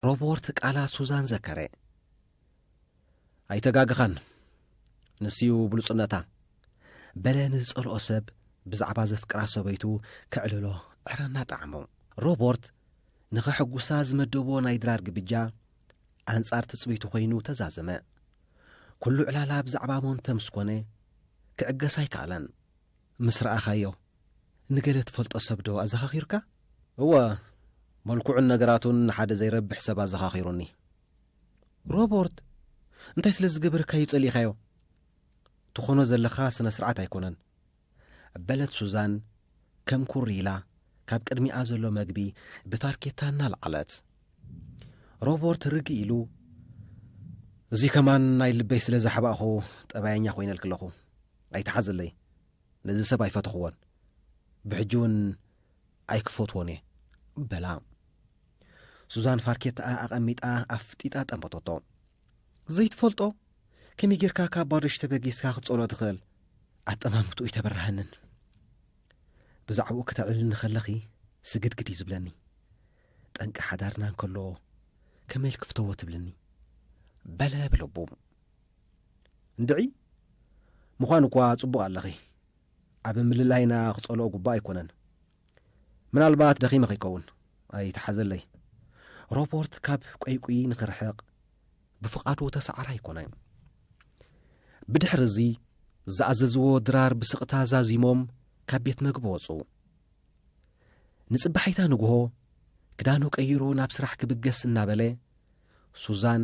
ሮቦርት ቃላት ሱዛን ዘከረ። ኣይተጋገኻን፣ ንሱ'ዩ ብሉጽነታ። በለ ንዝጸልኦ ሰብ ብዛዕባ ዘፍቅራ ሰበይቱ ከዕልሎ ዕረ እናጠዓሞ። ሮቦርት ንኸሕጉሳ ዝመደቦ ናይ ድራር ግብጃ ኣንጻር ትጽቢቱ ኮይኑ ተዛዘመ። ኩሉ ዕላላ ብዛዕባ ሞንተ ምስ ኮነ ክዕገስ ኣይከኣለን። ምስ ረኣኻዮ፣ ንገለ ትፈልጦ ሰብ ዶ ኣዘኻኺርካ? እወ፣ መልክዑን ነገራቱን ንሓደ ዘይረብሕ ሰብ ኣዘኻኺሩኒ። ሮበርት፣ እንታይ ስለ ዝገበረካ'ዩ ጸሊእካዮ? ትኾኖ ዘለኻ ስነ-ስርዓት ኣይኮነን። በለት ሱዛን ከም ኩር ኢላ ካብ ቅድሚኣ ዘሎ መግቢ ብፋርኬታ እናልዓለት። ሮበርት ርግእ ኢሉ፣ እዚ ከማን ናይ ልበይ ስለ ዘሕባእኹ ጠባየኛ ኮይነልኪ ኣለኹ። ኣይትሓዘለይ ነዚ ሰብ ኣይፈተኽዎን ብሕጂ እውን ኣይክፈትዎን እየ በላ ሱዛን ፋርኬታኣ ኣቐሚጣ ኣፍጢጣ ጠመቶቶ ዘይትፈልጦ ከመይ ጌርካ ካብ ባዶሽ ተበጊስካ ክትጸሎ ትኽእል ኣጠማምትኡ ይተበራሃንን ብዛዕባኡ ክተዕልልኒ ከለኺ ስግድግድ እዩ ዝብለኒ ጠንቂ ሓዳርና እንከሎ ከመይ ልክፍተዎ ትብልኒ በለ ብልቡ እንድዒ ምዃን እኳ ጽቡቕ ኣለኺ፣ ኣብ ምልላይና ክጸልኦ ጉቡእ ኣይኮነን። ምናልባት ደኺመ ከይከውን ኣይትሓዘለይ። ሮቦርት ካብ ቆይቁይ ንክርሕቕ ብፍቓዱ ተሰዓራ ኣይኮነ። ብድሕሪ እዚ ዝኣዘዝዎ ድራር ብስቕታ ዛዚሞም ካብ ቤት መግቢ ወጹ። ንጽባሒታ ንግሆ ክዳኑ ቀይሩ ናብ ስራሕ ክብገስ እናበለ ሱዛን፣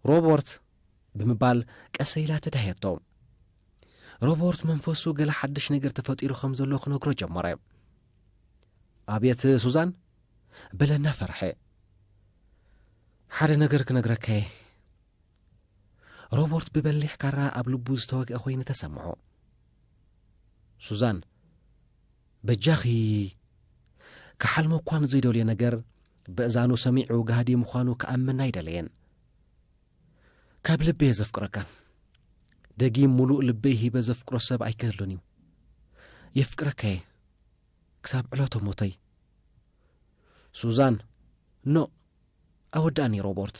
ሮቦርት! ብምባል ቀሰይ ኢላ ተዳህየቶ። ሮቦርት መንፈሱ ገለ ሓድሽ ነገር ተፈጢሩ ከም ዘሎ ክነግሮ ጀመረ። ኣብየት ሱዛን! በለ እናፈርሐ። ሓደ ነገር ክነግረካ እየ። ሮቦርት ብበሊሕ ካራ ኣብ ልቡ ዝተወግአ ኮይኑ ተሰምዖ። ሱዛን፣ በጃኺ! ክሓልሞ እኳ ንዘይደልዮ ነገር በእዛኑ ሰሚዑ ጋህዲ ምዃኑ ክኣምን ኣይደለየን። ካብ ልቢ'የ ዘፍቅረካ። ደጊም ምሉእ ልበይ ሂበ ዘፍቅሮ ሰብ ኣይክህሉን እዩ። የፍቅረካ'የ ክሳብ ዕለቶ ሞተይ። ሱዛን ኖእ ኣወድኣኒ ሮቦርት።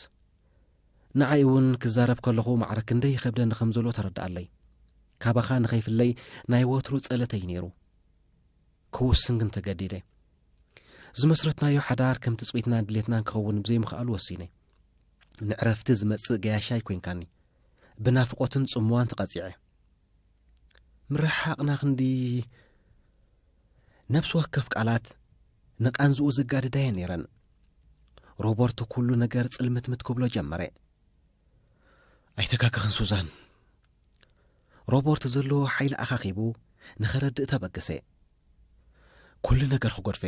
ንዓይ እውን ክዛረብ ከለኹ ማዕረ ክንደይ ይኸብደኒ ከም ዘሎ ተረድኣለይ። ካባኻ ንኸይፍለይ ናይ ወትሩ ጸለተይ እዩ ነይሩ። ክውስን ግን ተገዲደ። ዝመስረትናዮ ሓዳር ከም ትጽቢትናን ድሌትናን ክኸውን ብዘይምኽኣሉ ወሲነ። ንዕረፍቲ ዝመጽእ ገያሻይ ኮንካኒ። ብናፍቖትን ጽምዋን ተቐጺዐ። ምርሕሓቕና ክንዲ ነብሲ ወከፍ ቃላት ንቓንዝኡ ዘጋድዳየ ነይረን ሮበርት ኩሉ ነገር ጽልምትምት ክብሎ ጀመረ ኣይተካክኽን ሱዛን ሮበርት ዘለዎ ሓይሊ ኣኻኺቡ ንኸረድእ ተበገሰ ኩሉ ነገር ክጎድፈ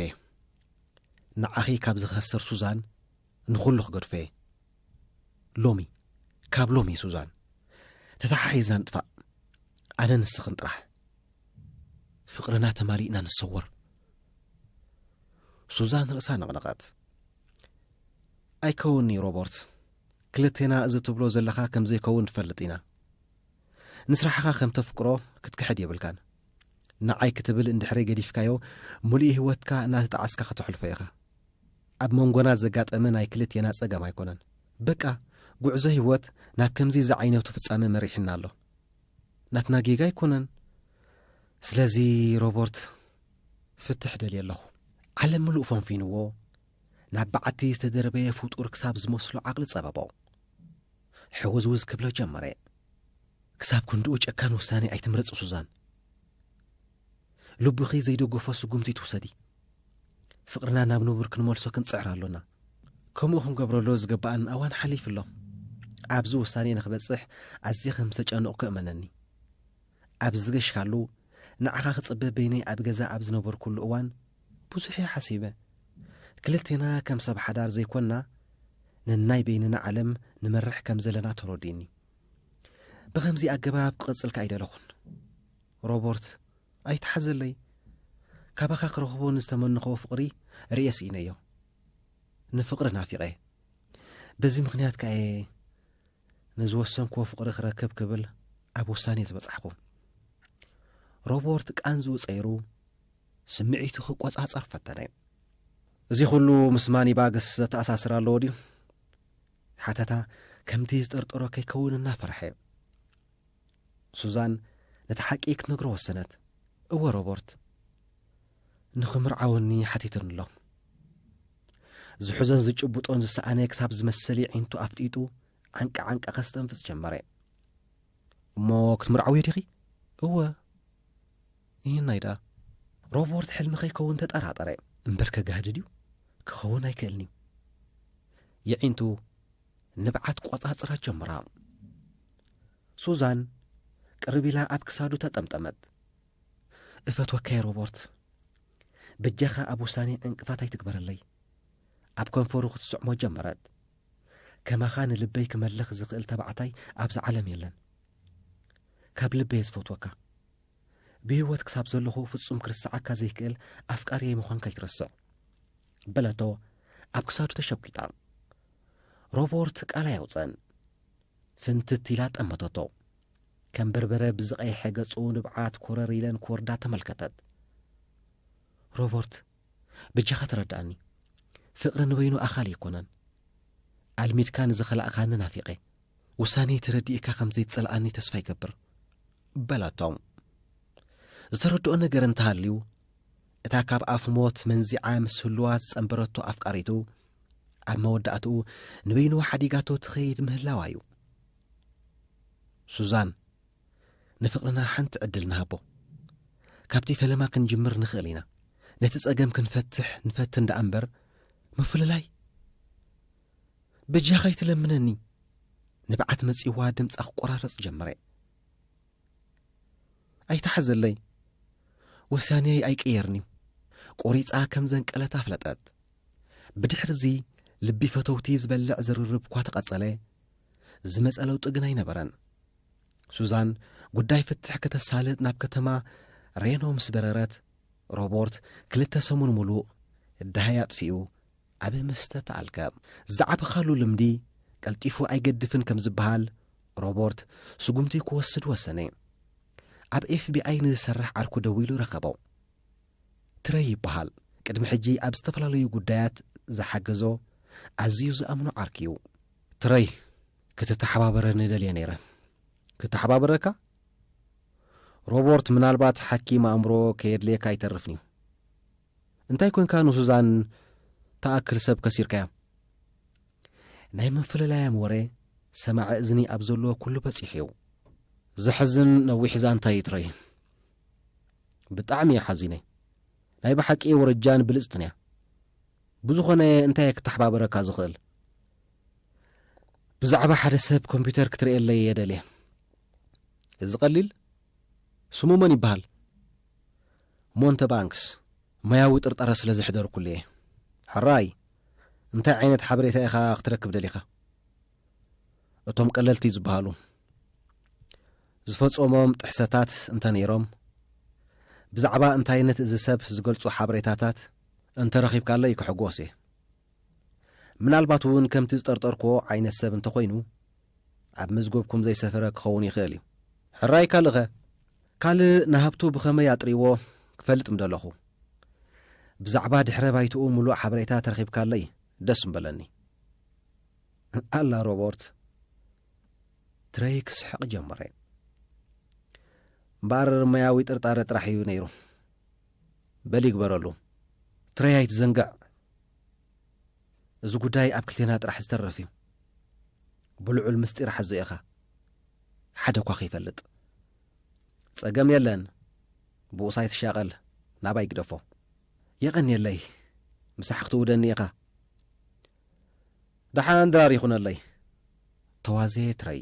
ንዓኺ ካብ ዝኸስር ሱዛን ንኹሉ ክገድፎ እየ ሎሚ ካብ ሎሚ ሱዛን ተተሓሒዝና ንጥፋእ ኣነ ንስኽን ጥራሕ ፍቕርና ተማሊእና ንሰወር ሱዛን ርእሳ ነቕነቐት ኣይከውንዩ ሮበርት ክልቴና እዚ ትብሎ ዘለኻ ከም ዘይከውን ትፈልጥ ኢና ንስራሕኻ ከም ተፍቅሮ ክትክሕድ የብልካን ንዓይ ክትብል እንድሕረይ ገዲፍካዮ ሙሉእ ህይወትካ እናተጣዓስካ ከተሕልፎ ኢኻ ኣብ መንጎና ዘጋጠመ ናይ ክልቴና ጸገም ኣይኮነን በቃ ጉዕዞ ሂወት ናብ ከምዚ ዝዓይነቱ ፍጻመ መሪሕና ኣሎ ናትና ጌጋ ኣይኮነን ስለዚ ሮቦርት ፍትሕ ደልየ ኣለኹ ዓለም ምሉእ ፈንፊንዎ ናብ በዓቲ ዝተደርበየ ፍጡር ክሳብ ዝመስሎ ዓቕሊ ጸበቦ ሕውዝውዝ ክብሎ ጀመረ ክሳብ ክንድኡ ጨካን ውሳኔ ኣይትምረጽ ሱዛን ልብኺ ዘይደገፎ ስጉምቲ ትውሰዲ። ፍቕርና ናብ ንቡር ክንመልሶ ክንጽዕር ኣሎና። ከምኡ ክንገብረሉ ዝገባኣና እዋን ሓሊፉ ኣሎ። ኣብዚ ውሳኔ ንክበጽሕ ኣዝየ ከም ዝተጨነቕኩ እመነኒ። ኣብ ዝገሽካሉ ንዓኻ ክጽበ በይነይ ኣብ ገዛ ኣብ ዝነበርኩሉ እዋን ብዙሕ እየ ሓሲበ። ክልቴና ከም ሰብ ሓዳር ዘይኮንና ነናይ በይንና ዓለም ንመርሕ ከም ዘለና ተረዲኡኒ። ብኸምዚ ኣገባብ ክቕጽልካ ኣይደለኹን። ሮቦርት ኣይትሓዘለይ ካባኻ ክረኽቦ ንዝተመነኽዎ ፍቕሪ ርእየ ስኢነዮ ንፍቕሪ ናፊቐ በዚ ምኽንያት ከኣየ ንዝወሰንክዎ ፍቕሪ ክረክብ ክብል ኣብ ውሳኔ ዝበጻሕኩ ሮቦርት ቃንዝኡ ጸይሩ ስምዒቱ ክቈጻጸር ፈተነ እዚ ዅሉ ምስ ማኒባግስ ዘተኣሳስር ኣለዎ ድዩ ሓተታ ከምቲ ዝጠርጠሮ ከይከውን እናፈርሐ ሱዛን ነቲ ሓቂ ክትነግሮ ወሰነት። እወ ሮበርት፣ ንኽምርዓወኒ ሓቲቱኒ ኣሎ። ዝሕዞን ዝጭብጦን ዝሰኣነ ክሳብ ዝመስል የዒንቱ ኣፍጢጡ ዓንቂ ዓንቂ ከስተንፍስ ጀመረ። እሞ ክትምርዓውዮ ዲኺ? እወ ይህናይ ደኣ። ሮበርት ሕልሚ ከይከውን ተጠራጠረ። እምበር ከጋህድድ እዩ፣ ክኸውን ኣይክእልን እዩ። የዒንቱ ንብዓት ቆጻጽራ ጀምራ። ሱዛን ቅርብ ኢላ ኣብ ክሳዱ ተጠምጠመት። እፈትወካየ ሮቦርት፣ በጃኻ ኣብ ውሳኔ ዕንቅፋት ኣይትግበረለይ። ኣብ ከንፈሩ ክትስዕሞ ጀመረት። ከማኻ ንልበይ ክመልኽ ዝኽእል ተባዕታይ ኣብዛ ዓለም የለን። ካብ ልበየ ዝፈትወካ። ብህይወት ክሳብ ዘለኹ ፍጹም ክርስዓካ ዘይክእል ኣፍቃርየይ ምዃንካ ኣይትረስዕ በለቶ ኣብ ክሳዱ ተሸጒጣ ሮቦርት ቃል ኣየውፀን ፍንትት ኢላ ጠመተቶ ከም በርበረ ብዝቐይሐ ገጹ ንብዓት ኮረር ኢለን ክወርዳ ተመልከተት ሮቦርት ብጃኻ ተረዳእኒ ፍቕሪ ንበይኑ ኣኻሊ ኣይኮነን ኣልሚድካ ንዝኸላእኻኒ ናፊቐ ውሳኔይ ተረዲእካ ከም ዘይትጸልኣኒ ተስፋ ይገብር። በለቶ። ዝተረድኦ ነገር እንተ ሃልዩ፣ እታ ካብ ኣፍ ሞት መንዚዓ ምስ ህሉዋ ዝጸንበረቶ ኣፍቃሪቱ፣ ኣብ መወዳእትኡ ንበይኑ ሓዲጋቶ ትኸይድ ምህላዋ እዩ። ሱዛን፣ ንፍቕርና ሓንቲ ዕድል ንሃቦ። ካብቲ ፈለማ ክንጅምር ንኽእል ኢና። ነቲ ጸገም ክንፈትሕ ንፈትን ደኣ እምበር፣ ምፍልላይ በጃኻ ይትለምነኒ ንብዓት መጺዋ ድምጻ ክቆራረጽ ጀመረ ኣይተሓዘለይ ወሳንየይ ኣይቅየርን እዩ ቆሪጻ ከም ዘንቀለት ኣፍለጠት ብድሕርዚ ልቢ ፈተውቲ ዝበልዕ ዝርርብ እኳ ተቐጸለ ዝመጸ ለውጢ ግን ኣይነበረን ሱዛን ጉዳይ ፍትሕ ከተሳልጥ ናብ ከተማ ሬኖ ምስ በረረት ሮቦርት ክልተ ሰሙን ሙሉእ ዳሃይ ኣጥፊኡ ኣብ መስተ ተኣልከ ዝዓበኻሉ ልምዲ ቀልጢፉ ኣይገድፍን ከም ዝበሃል፣ ሮቦርት ስጉምቲ ክወስድ ወሰነ። ኣብ ኤፍቢኣይ ንዝሰርሕ ዓርኩ ደዊሉ ረኸቦ። ትረይ ይበሃል፣ ቅድሚ ሕጂ ኣብ ዝተፈላለዩ ጉዳያት ዝሓገዞ ኣዝዩ ዝኣምኖ ዓርኪ'ዩ። ትረይ፣ ክትተሓባበረኒ ደልየ ነይረ። ክተሓባበረካ? ሮቦርት፣ ምናልባት ሓኪም ኣእምሮ ከየድለየካ ኣይተርፍን'ዩ። እንታይ ኮንካ ንሱዛን ትኣክል ሰብ ከሲርካያ። ናይ ምፍልላያም ወረ ሰማዒ እዝኒ ኣብ ዘለዎ ኩሉ በጺሑ እዩ። ዘሕዝን ነዊሕ ዛንታ እዩ ትረይ ብጣዕሚ እየ ሓዚነ ናይ ብሓቂ ወረጃን ብልጽትን እያ ብዝኾነ እንታይ ክተሓባበረካ ዝኽእል ብዛዕባ ሓደ ሰብ ኮምፒውተር ክትርእየለይ እየ ደልየ እዚ ቀሊል ስሙ መን ይበሃል ሞንተባንክስ፣ ሞያዊ ጥርጠረ ስለ ዘሕደርኩሉ እየ። ሕራይ፣ እንታይ ዓይነት ሓበሬታ ኢኻ ክትረክብ ደሊኻ? እቶም ቀለልቲ ዝበሃሉ ዝፈጸሞም ጥሕሰታት እንተ ነይሮም፣ ብዛዕባ እንታይነት እዚ ሰብ ዝገልጹ ሓበሬታታት እንተ ረኺብካለይ ክሕጎስ እየ። ምናልባት እውን ከምቲ ዝጠርጠርኩዎ ዓይነት ሰብ እንተ ኾይኑ፣ ኣብ መዝገብኩም ዘይሰፈረ ክኸውን ይኽእል እዩ። ሕራይ ካልእኸ? ካልእ ንሃብቱ ብኸመይ ኣጥርይዎ ክፈልጥ ምደለኹ። ብዛዕባ ድሕረ ባይትኡ ምሉእ ሓበሬታ ተረኺብካለይ ደስ ምበለኒ። ኣላ ሮቦርት ትረይ ክስሕቕ ጀመረ እምበኣር መያዊ ጥርጣረ ጥራሕ እዩ ነይሩ በሊ ይግበረሉ ትረይ ኣይትዘንግዕ እዚ ጉዳይ ኣብ ክልቴና ጥራሕ ዝተርፍ እዩ ብልዑል ምስጢር ሓዞ ኢኻ ሓደ እኳ ከይፈልጥ ጸገም የለን ብኡሳይ ትሻቐል ናባይ ግደፎ የቐንየለይ ምሳሕ ክትውደኒ ኢኻ ደሓን ድራር ይኹነለይ ተዋዜ ትረይ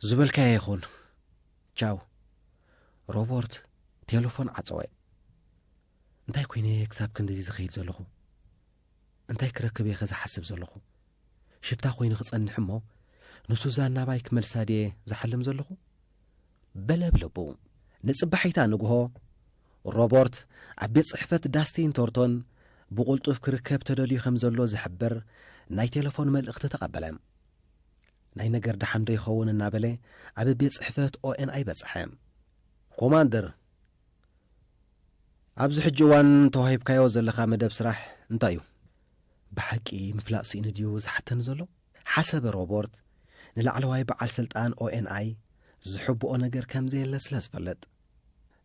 ዝበልካዮ ይኹን ቻው ሮቦርት ቴሌፎን ዓፀወ እንታይ ኮይነ እየ ክሳብ ክንድዚ ዝኸይድ ዘለኹ? እንታይ ክረክብ እየኸ ዝሓስብ ዘለኹ? ሽፍታ ኮይነ ክጸንሕ እሞ ንሱዛን ናባይ ክመልሳ ድየ ዝሓልም ዘለኹ? በለ ብ ልቡ። ንጽባሒታ ንግሆ ሮቦርት ኣብ ቤት ጽሕፈት ዳስቲን ቶርቶን ብቑልጡፍ ክርከብ ተደልዩ ከም ዘሎ ዝሕብር ናይ ቴለፎን መልእኽቲ ተቐበለ። ናይ ነገር ደሓንዶ ይኸውን እናበለ ኣብ ቤት ጽሕፈት ኦኤንኣይ በጽሐ። ኮማንደር ኣብዚ ሕጂ እዋን ተዋሂብካዮ ዘለኻ መደብ ስራሕ እንታይ እዩ? ብሓቂ ምፍላጥ ስኢኑ ድዩ ዝሓተኒ ዘሎ? ሓሰበ ሮቦርት ንላዕለዋይ በዓል ስልጣን ኦኤንኣይ ዝሕብኦ ነገር ከም ዘየለ ስለ ዝፈልጥ።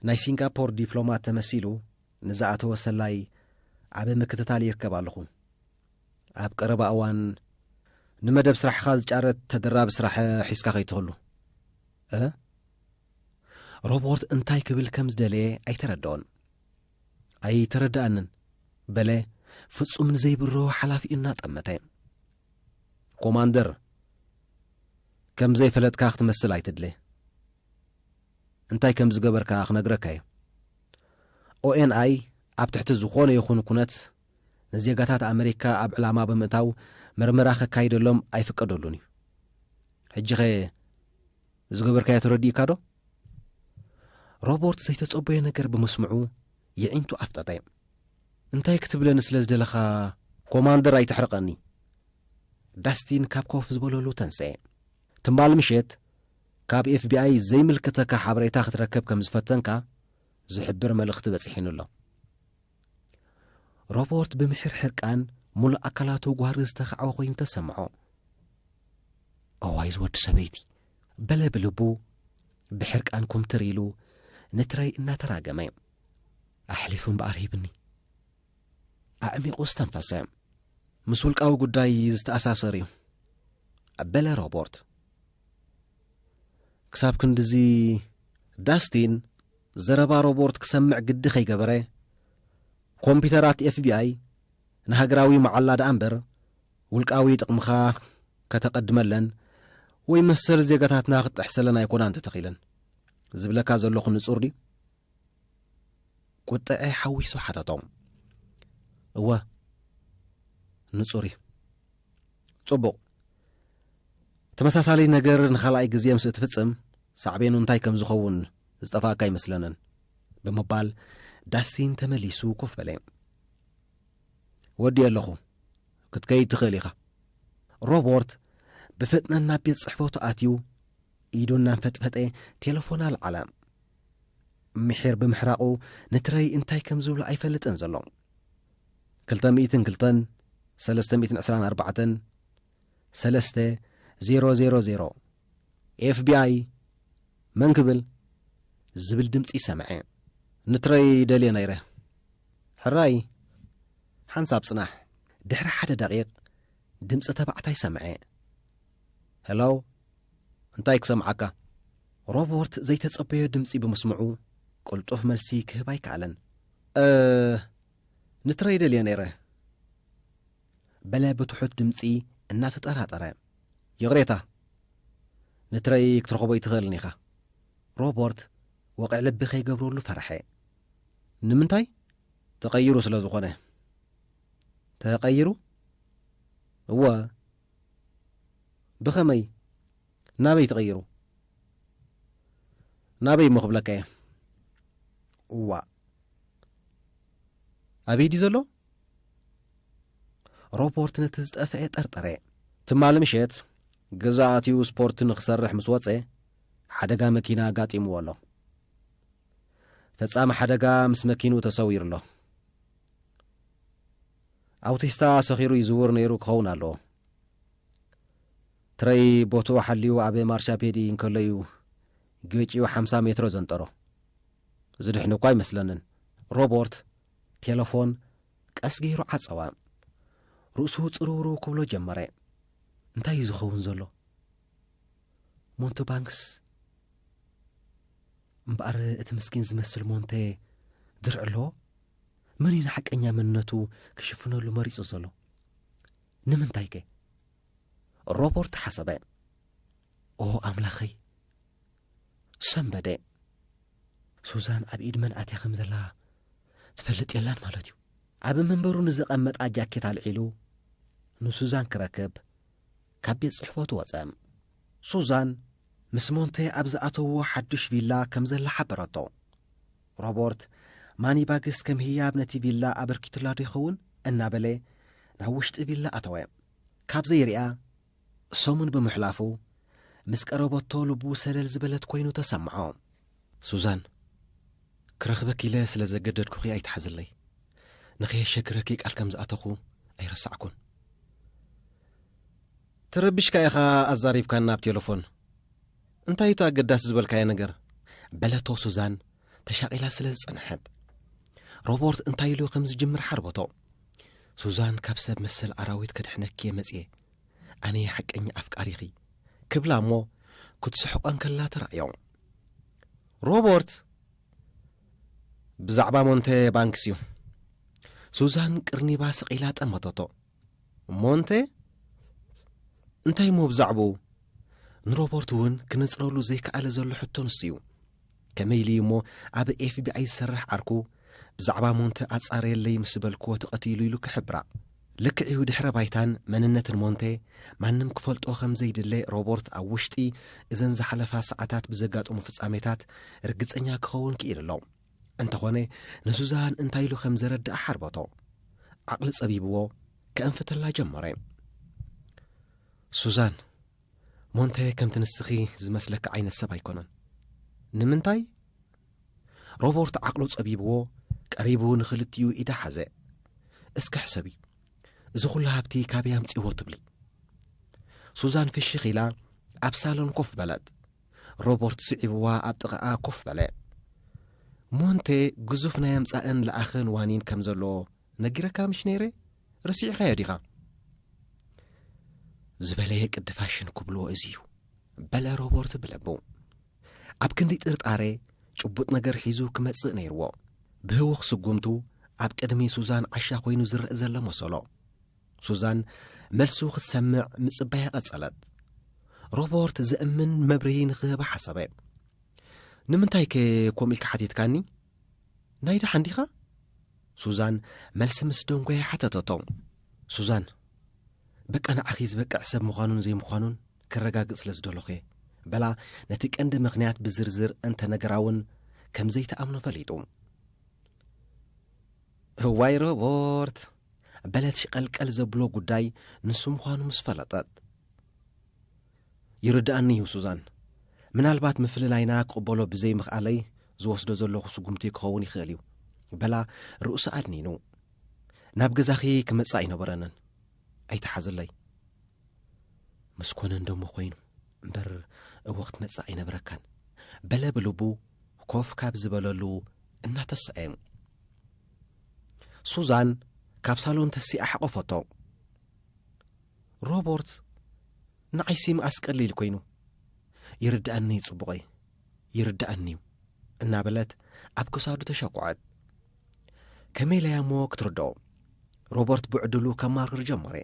ናይ ሲንጋፖር ዲፕሎማት ተመሲሉ ንዝኣተወ ሰላይ ኣብ ምክትታል ይርከብ ኣለኹ። ኣብ ቀረባ እዋን ንመደብ ስራሕኻ ዝጫረት ተደራቢ ስራሕ ሒዝካ ከይትህሉ። እ ሮቦርት እንታይ ክብል ከም ዝደለየ ኣይተረድኦን። ኣይተረድኣንን፣ በለ ፍጹም ንዘይብርሆ ሓላፊኡ እናጠመተ። ኮማንደር፣ ከም ዘይፈለጥካ ክትመስል ኣይትድለ። እንታይ ከም ዝገበርካ ክነግረካ'የ። ኦኤንኣይ ኣብ ትሕቲ ዝኾነ ይኹን ኩነት ንዜጋታት ኣመሪካ ኣብ ዕላማ ብምእታው ምርመራ ከካይደሎም ኣይፍቀደሉን እዩ ሕጂኸ ዝገበርካዮ ተረዲእካ ዶ ሮቦርት ዘይተጸበዮ ነገር ብምስምዑ የዒንቱ ኣፍጠጠ እንታይ ክትብለኒ ስለ ዝደለኻ ኮማንደር ኣይተሕርቐኒ ዳስቲን ካብ ኮፍ ዝበለሉ ተንሰ ትምባል ምሸት ካብ ኤፍቢኣይ ዘይምልክተካ ሓበሬታ ክትረከብ ከም ዝፈተንካ ዝሕብር መልእኽቲ በጺሒኑ ኣሎ ሮቦርት ብምሒር ሕርቃን ሙሉእ ኣካላቱ ጓህሪ ዝተኻዕወ ኮይኑ ተሰምዖ እዋይ ዝወዲ ሰበይቲ በለ ብልቡ ብሕርቃን ኩምትር ኢሉ ንትረይ እናተራገመ ኣሕሊፉ እምበኣር ሂብኒ ኣዕሚቑ ዝተንፈሰ ምስ ውልቃዊ ጉዳይ ዝተኣሳሰር እዩ በለ ሮቦርት ክሳብ ክንድዚ ዳስቲን ዘረባ ሮቦርት ክሰምዕ ግዲ ከይገበረ፣ ኮምፒተራት ኤፍቢኣይ ንሃገራዊ መዓላ ደኣ እምበር ውልቃዊ ጥቕምኻ ከተቐድመለን ወይ መሰል ዜጋታትና ክትጥሕሰለን ኣይኮናን ተተኺለን። ዝብለካ ዘለኹ ንጹር ድዩ? ቍጥዐ ሓዊሱ ሓተቶም። እወ፣ ንጹር እዩ። ጽቡቕ። ተመሳሳሊ ነገር ንኻልኣይ ግዜ ምስ እትፍጽም፣ ሳዕቤኑ እንታይ ከም ዝኸውን ዝጠፍኣካ ኣይመስለንን። ብምባል ዳስቲን ተመሊሱ ኮፍ በለ። ወዲኤ ኣለኹ፣ ክትከይድ ትኽእል ኢኻ። ሮቦርት ብፍጥነት ናብ ቤት ጽሕፈቱ ኣትዩ ኢዱ እናንፈጥፈጠ ቴለፎን ኣልዓለ። ምሒር ብምሕራቑ ንትረይ እንታይ ከም ዝብሎ ኣይፈልጥን ዘሎ። ክልተ ሚእትን ክልተን ሰለስተ ሚእትን ዕስራን ኣርባዕተን ሰለስተ ዜሮ ዜሮ ዜሮ ኤፍቢኣይ መን ክብል ዝብል ድምፂ ሰምዐ። ንትረይ ደልየ ነይረ ሕራይ ሓንሳብ ፅናሕ። ድሕሪ ሓደ ደቒቕ ድምፂ ተባዕታይ ሰምዐ። ሄሎ፣ እንታይ ክሰምዓካ? ሮበርት ዘይተጸበዮ ድምጺ ብምስምዑ ቅልጡፍ መልሲ ክህብ ኣይከኣለን። እ ንትረይ ደልየ ነይረ በለ ብትሑት ድምጺ እናተጠራጠረ። ይቕሬታ፣ ንትረይ ክትረኽቦ ኣይትኽእልን ኢኻ። ሮበርት ወቕዕ ልቢ ከይገብረሉ ፈርሐ። ንምንታይ? ተቐይሩ ስለ ዝኾነ። ተቐይሩ? እወ፣ ብኸመይ ናበይ ተቐይሩ ናበይ እሞ ክብለካ እየ እዋእ ኣበይ ድዩ ዘሎ ሮቦርት ነቲ ዝጠፍአ ጠርጠረ ትማሊ ምሸት ገዛ ኣትዩ ስፖርት ንኽሰርሕ ምስ ወፀ ሓደጋ መኪና ኣጋጢምዎ ኣሎ ፈጻሚ ሓደጋ ምስ መኪኑ ተሰዊሩ ኣሎ ኣውቲስታ ሰኺሩ ይዝውር ነይሩ ክኸውን ኣለዎ። ትረይ ቦትኡ ሓልዩ ኣብ ማርሻፔዲ እንከሎ እዩ ጌጭኡ ሓምሳ ሜትሮ ዘንጠሮ። ዝድሕኑ እኳ ኣይመስለንን። ሮቦርት ቴለፎን ቀስ ገይሩ ዓጸወ። ርእሱ ጽርውርው ክብሎ ጀመረ። እንታይ እዩ ዝኸውን ዘሎ? ሞንቶ ባንክስ እምበኣር እቲ ምስኪን ዝመስል ሞንተ ድርዒ ኣለዎ መን እዩ ንሓቀኛ መንነቱ ክሽፍነሉ መሪጹ ዘሎ? ንምንታይ ከ? ሮቦርት ሓሰበ። ኦ ኣምላኸይ! ሰንበደ። ሱዛን ኣብ ኢድ መን ኣትያ ከም ዘላ ትፈልጥ የላን ማለት እዩ። ኣብ መንበሩ ንዘቐመጣ ጃኬት ኣልዒሉ ንሱዛን ክረክብ ካብ ቤት ጽሕፈቱ ወጸ። ሱዛን ምስ ሞንተ ኣብ ዝኣተውዎ ሓዱሽ ቪላ ከም ዘላ ሓበረቶ። ሮቦርት፣ ማኒባግስ ከም ህያብ ነቲ ቪላ ኣበርኪቱላዶ ይኸውን? እናበለ ናብ ውሽጢ ቪላ ኣተወ። ካብ ዘይርእያ ሰሙን ብምሕላፉ፣ ምስ ቀረበቶ ልቡ ሰለል ዝበለት ኮይኑ ተሰምዖ። ሱዛን፣ ክረኽበኪ ኢለ ስለ ዘገደድኩኺ ኣይትሓዝለይ። ንኸየሸግረኪ ቃል ከም ዝኣተኹ ኣይረሳዕኩን። ተረቢሽካ ኢኻ ኣዛሪብካና ብ ቴለፎን። እንታይ እዩ'ቲ ኣገዳሲ ዝበልካዮ ነገር? በለቶ ሱዛን ተሻቒላ ስለ ዝጸንሐት። ሮቦርት እንታይ ኢሉ ከም ዝጅምር ሓርበቶ። ሱዛን ካብ ሰብ መሰል ኣራዊት ከድሕነኪ እየ መጽየ። ኣነየ ሓቀኛ ኣፍቃሪኺ። ክብላ እሞ ክትስሕቆ እንከላ ተራእዮ። ሮቦርት ብዛዕባ ሞንተ ባንክስ እዩ። ሱዛን ቅርኒባ ስቒላ ጠመተቶ። እሞ እንተ እንታይ እሞ ብዛዕባኡ? ንሮበርት እውን ክነጽረሉ ዘይከኣለ ዘሎ ሕቶ ንሱ'ዩ። ከመይ ኢሉ'ዩ እሞ ኣብ ኤፍቢኣይ ዝሰርሕ ዓርኩ ብዛዕባ ሞንተ ኣጻርየለይ ምስ በልክዎ ተቐቲሉ ኢሉ ክሕብራ? ልክዕ'ዩ ድሕረ ባይታን መንነትን ሞንተ ማንም ክፈልጦ ከም ዘይድለ ሮበርት ኣብ ውሽጢ እዘን ዝሓለፋ ሰዓታት ብዘጋጠሙ ፍጻሜታት ርግጸኛ ክኸውን ክኢሉ ኣሎ። እንተኾነ ንሱዛን እንታይ ኢሉ ከም ዘረድኣ ሓርበቶ ዓቕሊ ጸቢብዎ ከእንፍተላ ጀመረ ሱዛን ሞንተ ከምቲ ንስኺ ዝመስለኪ ዓይነት ሰብ ኣይኮነን ንምንታይ ሮቦርት ዓቕሉ ጸቢብዎ ቀሪቡ ንኽልቲኡ ኢዳ ሓዘ እስኪ ሕሰብ እዩ እዚ ዅሉ ሃብቲ ካበይ ኣምጺዎ ትብሊ ሱዛን ፍሽኽ ኢላ ኣብ ሳሎን ኮፍ በለት ሮቦርት ስዒብዋ ኣብ ጥቓኣ ኮፍ በለ። ሞንቴ ግዙፍ ናይ ኣምጻእን ለኣኽን ዋኒን ከም ዘሎ ነጊረካ ምሽ ነይረ? ረሲዕኻዮ ዲኻ? ዝበለየ ቅዲ ፋሽን ክብልዎ እዚ እዩ በለ ሮቦርት ብለቡ ኣብ ክንዲ ጥርጣረ ጭቡጥ ነገር ሒዙ ክመጽእ ነይርዎ ብህውኽ ስጉምቱ ኣብ ቅድሚ ሱዛን ዓሻ ኮይኑ ዝረእ ዘሎ መሰሎ ሱዛን መልሱ ክትሰምዕ ምጽባያ ቀጸለት። ሮበርት ዘእምን መብርሂ ንኽህባ ሓሰበ። ንምንታይከ ከምኡ ኢልካ ሓቲትካኒ? ናይ ደሓን ዲኻ? ሱዛን መልሲ ምስ ደንጎየ ሓተተቶ። ሱዛን በቃ ንዓኺ ዝበቅዕ ሰብ ምዃኑን ዘይምዃኑን ክረጋግጽ ስለ ዝደለኹ እየ በላ ነቲ ቀንዲ ምኽንያት ብዝርዝር እንተ ነገራ እውን ከም ዘይተኣምኖ ፈሊጡ እዋይ ሮቦርት በለት ሽቐልቀል ዘብሎ ጉዳይ ንሱ ምዃኑ ምስ ፈለጠት። ይርድኣኒ እዩ ሱዛን፣ ምናልባት ምፍልላይና ክቕበሎ ብዘይምኽኣለይ ዝወስዶ ዘለኹ ስጉምቲ ክኸውን ይኽእል እዩ በላ ርእሱ ኣድኒኑ። ናብ ገዛኺ ክመጽእ ኣይነበረንን፣ ኣይትሓዝለይ። ምስ ኮነ እንደሞ ኮይኑ እምበር እወ ክትመጽእ ኣይነበረካን በለ ብልቡ ኮፍ ካብ ዝበለሉ እናተሰኤ። ሱዛን ካብ ሳሎን ተሲኣ ሓቖፈቶ። ሮቦርት ንዓይሲ ምኣስ ቀሊል ኮይኑ ይርድኣኒ'ዩ ጽቡቐይ ይርድኣኒ'ዩ እናበለት ኣብ ክሳዱ ተሸኩዐት። ከመይ ኢላያ እሞ ክትርድኦ? ሮቦርት ብዕድሉ ከማርር ጀመረ።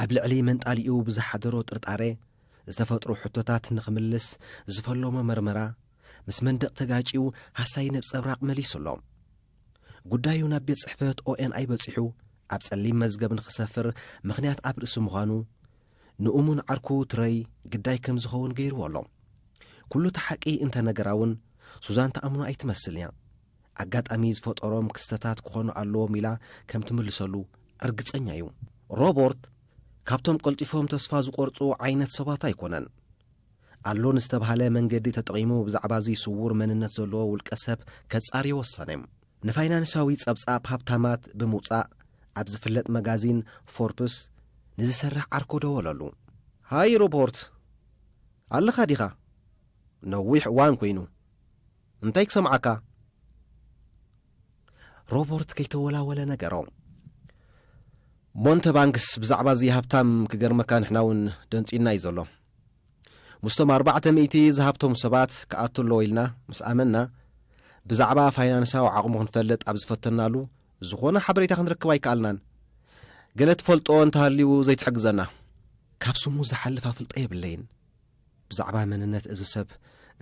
ኣብ ልዕሊ መንጣሊኡ ብዝሓደሮ ጥርጣረ ዝተፈጥሩ ሕቶታት ንኽምልስ ዝፈለሞ መርመራ ምስ መንደቕ ተጋጭዩ ሃሳዪ ነብጸብራቕ መሊሱ ኣሎ። ጉዳዩ ናብ ቤት ጽሕፈት ኦኤንኣይ በጺሑ ኣብ ጸሊም መዝገብ ንኽሰፍር ምኽንያት ኣብ ርእሲ ምዃኑ ንእሙን ዓርኩ ትረይ ግዳይ ከም ዝኸውን ገይርዎ ኣሎ። ኩሉ እቲ ሓቂ እንተ ነገራ እውን ሱዛን ትኣምኖ ኣይትመስልን እያ። ኣጋጣሚ ዝፈጠሮም ክስተታት ክኾኑ ኣለዎም ኢላ ከም ትምልሰሉ ርግጸኛ እዩ። ሮቦርት ካብቶም ቀልጢፎም ተስፋ ዝቖርጹ ዓይነት ሰባት ኣይኮነን። ኣሎ ንዝተብሃለ መንገዲ ተጠቒሙ ብዛዕባ'ዚ ስዉር መንነት ዘለዎ ውልቀሰብ ከጻሪ ወሰነ። ንፋይናንሳዊ ጸብጻብ ሃብታማት ብምውጻእ ኣብ ዝፍለጥ መጋዚን ፎርፕስ ንዝሰርሕ ዓርኩ ደወለሉ። ሃይ ሮቦርት! ኣለኻ ዲኻ? ነዊሕ እዋን ኰይኑ። እንታይ ክሰምዓካ? ሮቦርት ከይተወላወለ ነገሮ። ሞንተባንክስ ብዛዕባ'ዚ ሃብታም ክገርመካ ንሕና'ውን ደንጽዩና'ዩ ዘሎ። ምስቶም ኣርባዕተ ሚእቲ ዝሃብተሙ ሰባት ክኣቱ ኣለዎ ኢልና ምስ ኣመንና፣ ብዛዕባ ፋይናንሳዊ ዓቕሙ ክንፈልጥ ኣብ ዝፈተንናሉ፣ ዝኾነ ሓበሬታ ክንረክብ ኣይከኣልናን። ገለ ትፈልጦ እንተሃልዩ ዘይትሕግዘና? ካብ ስሙ ዝሓልፍ ኣፍልጦ የብለይን። ብዛዕባ መንነት እዚ ሰብ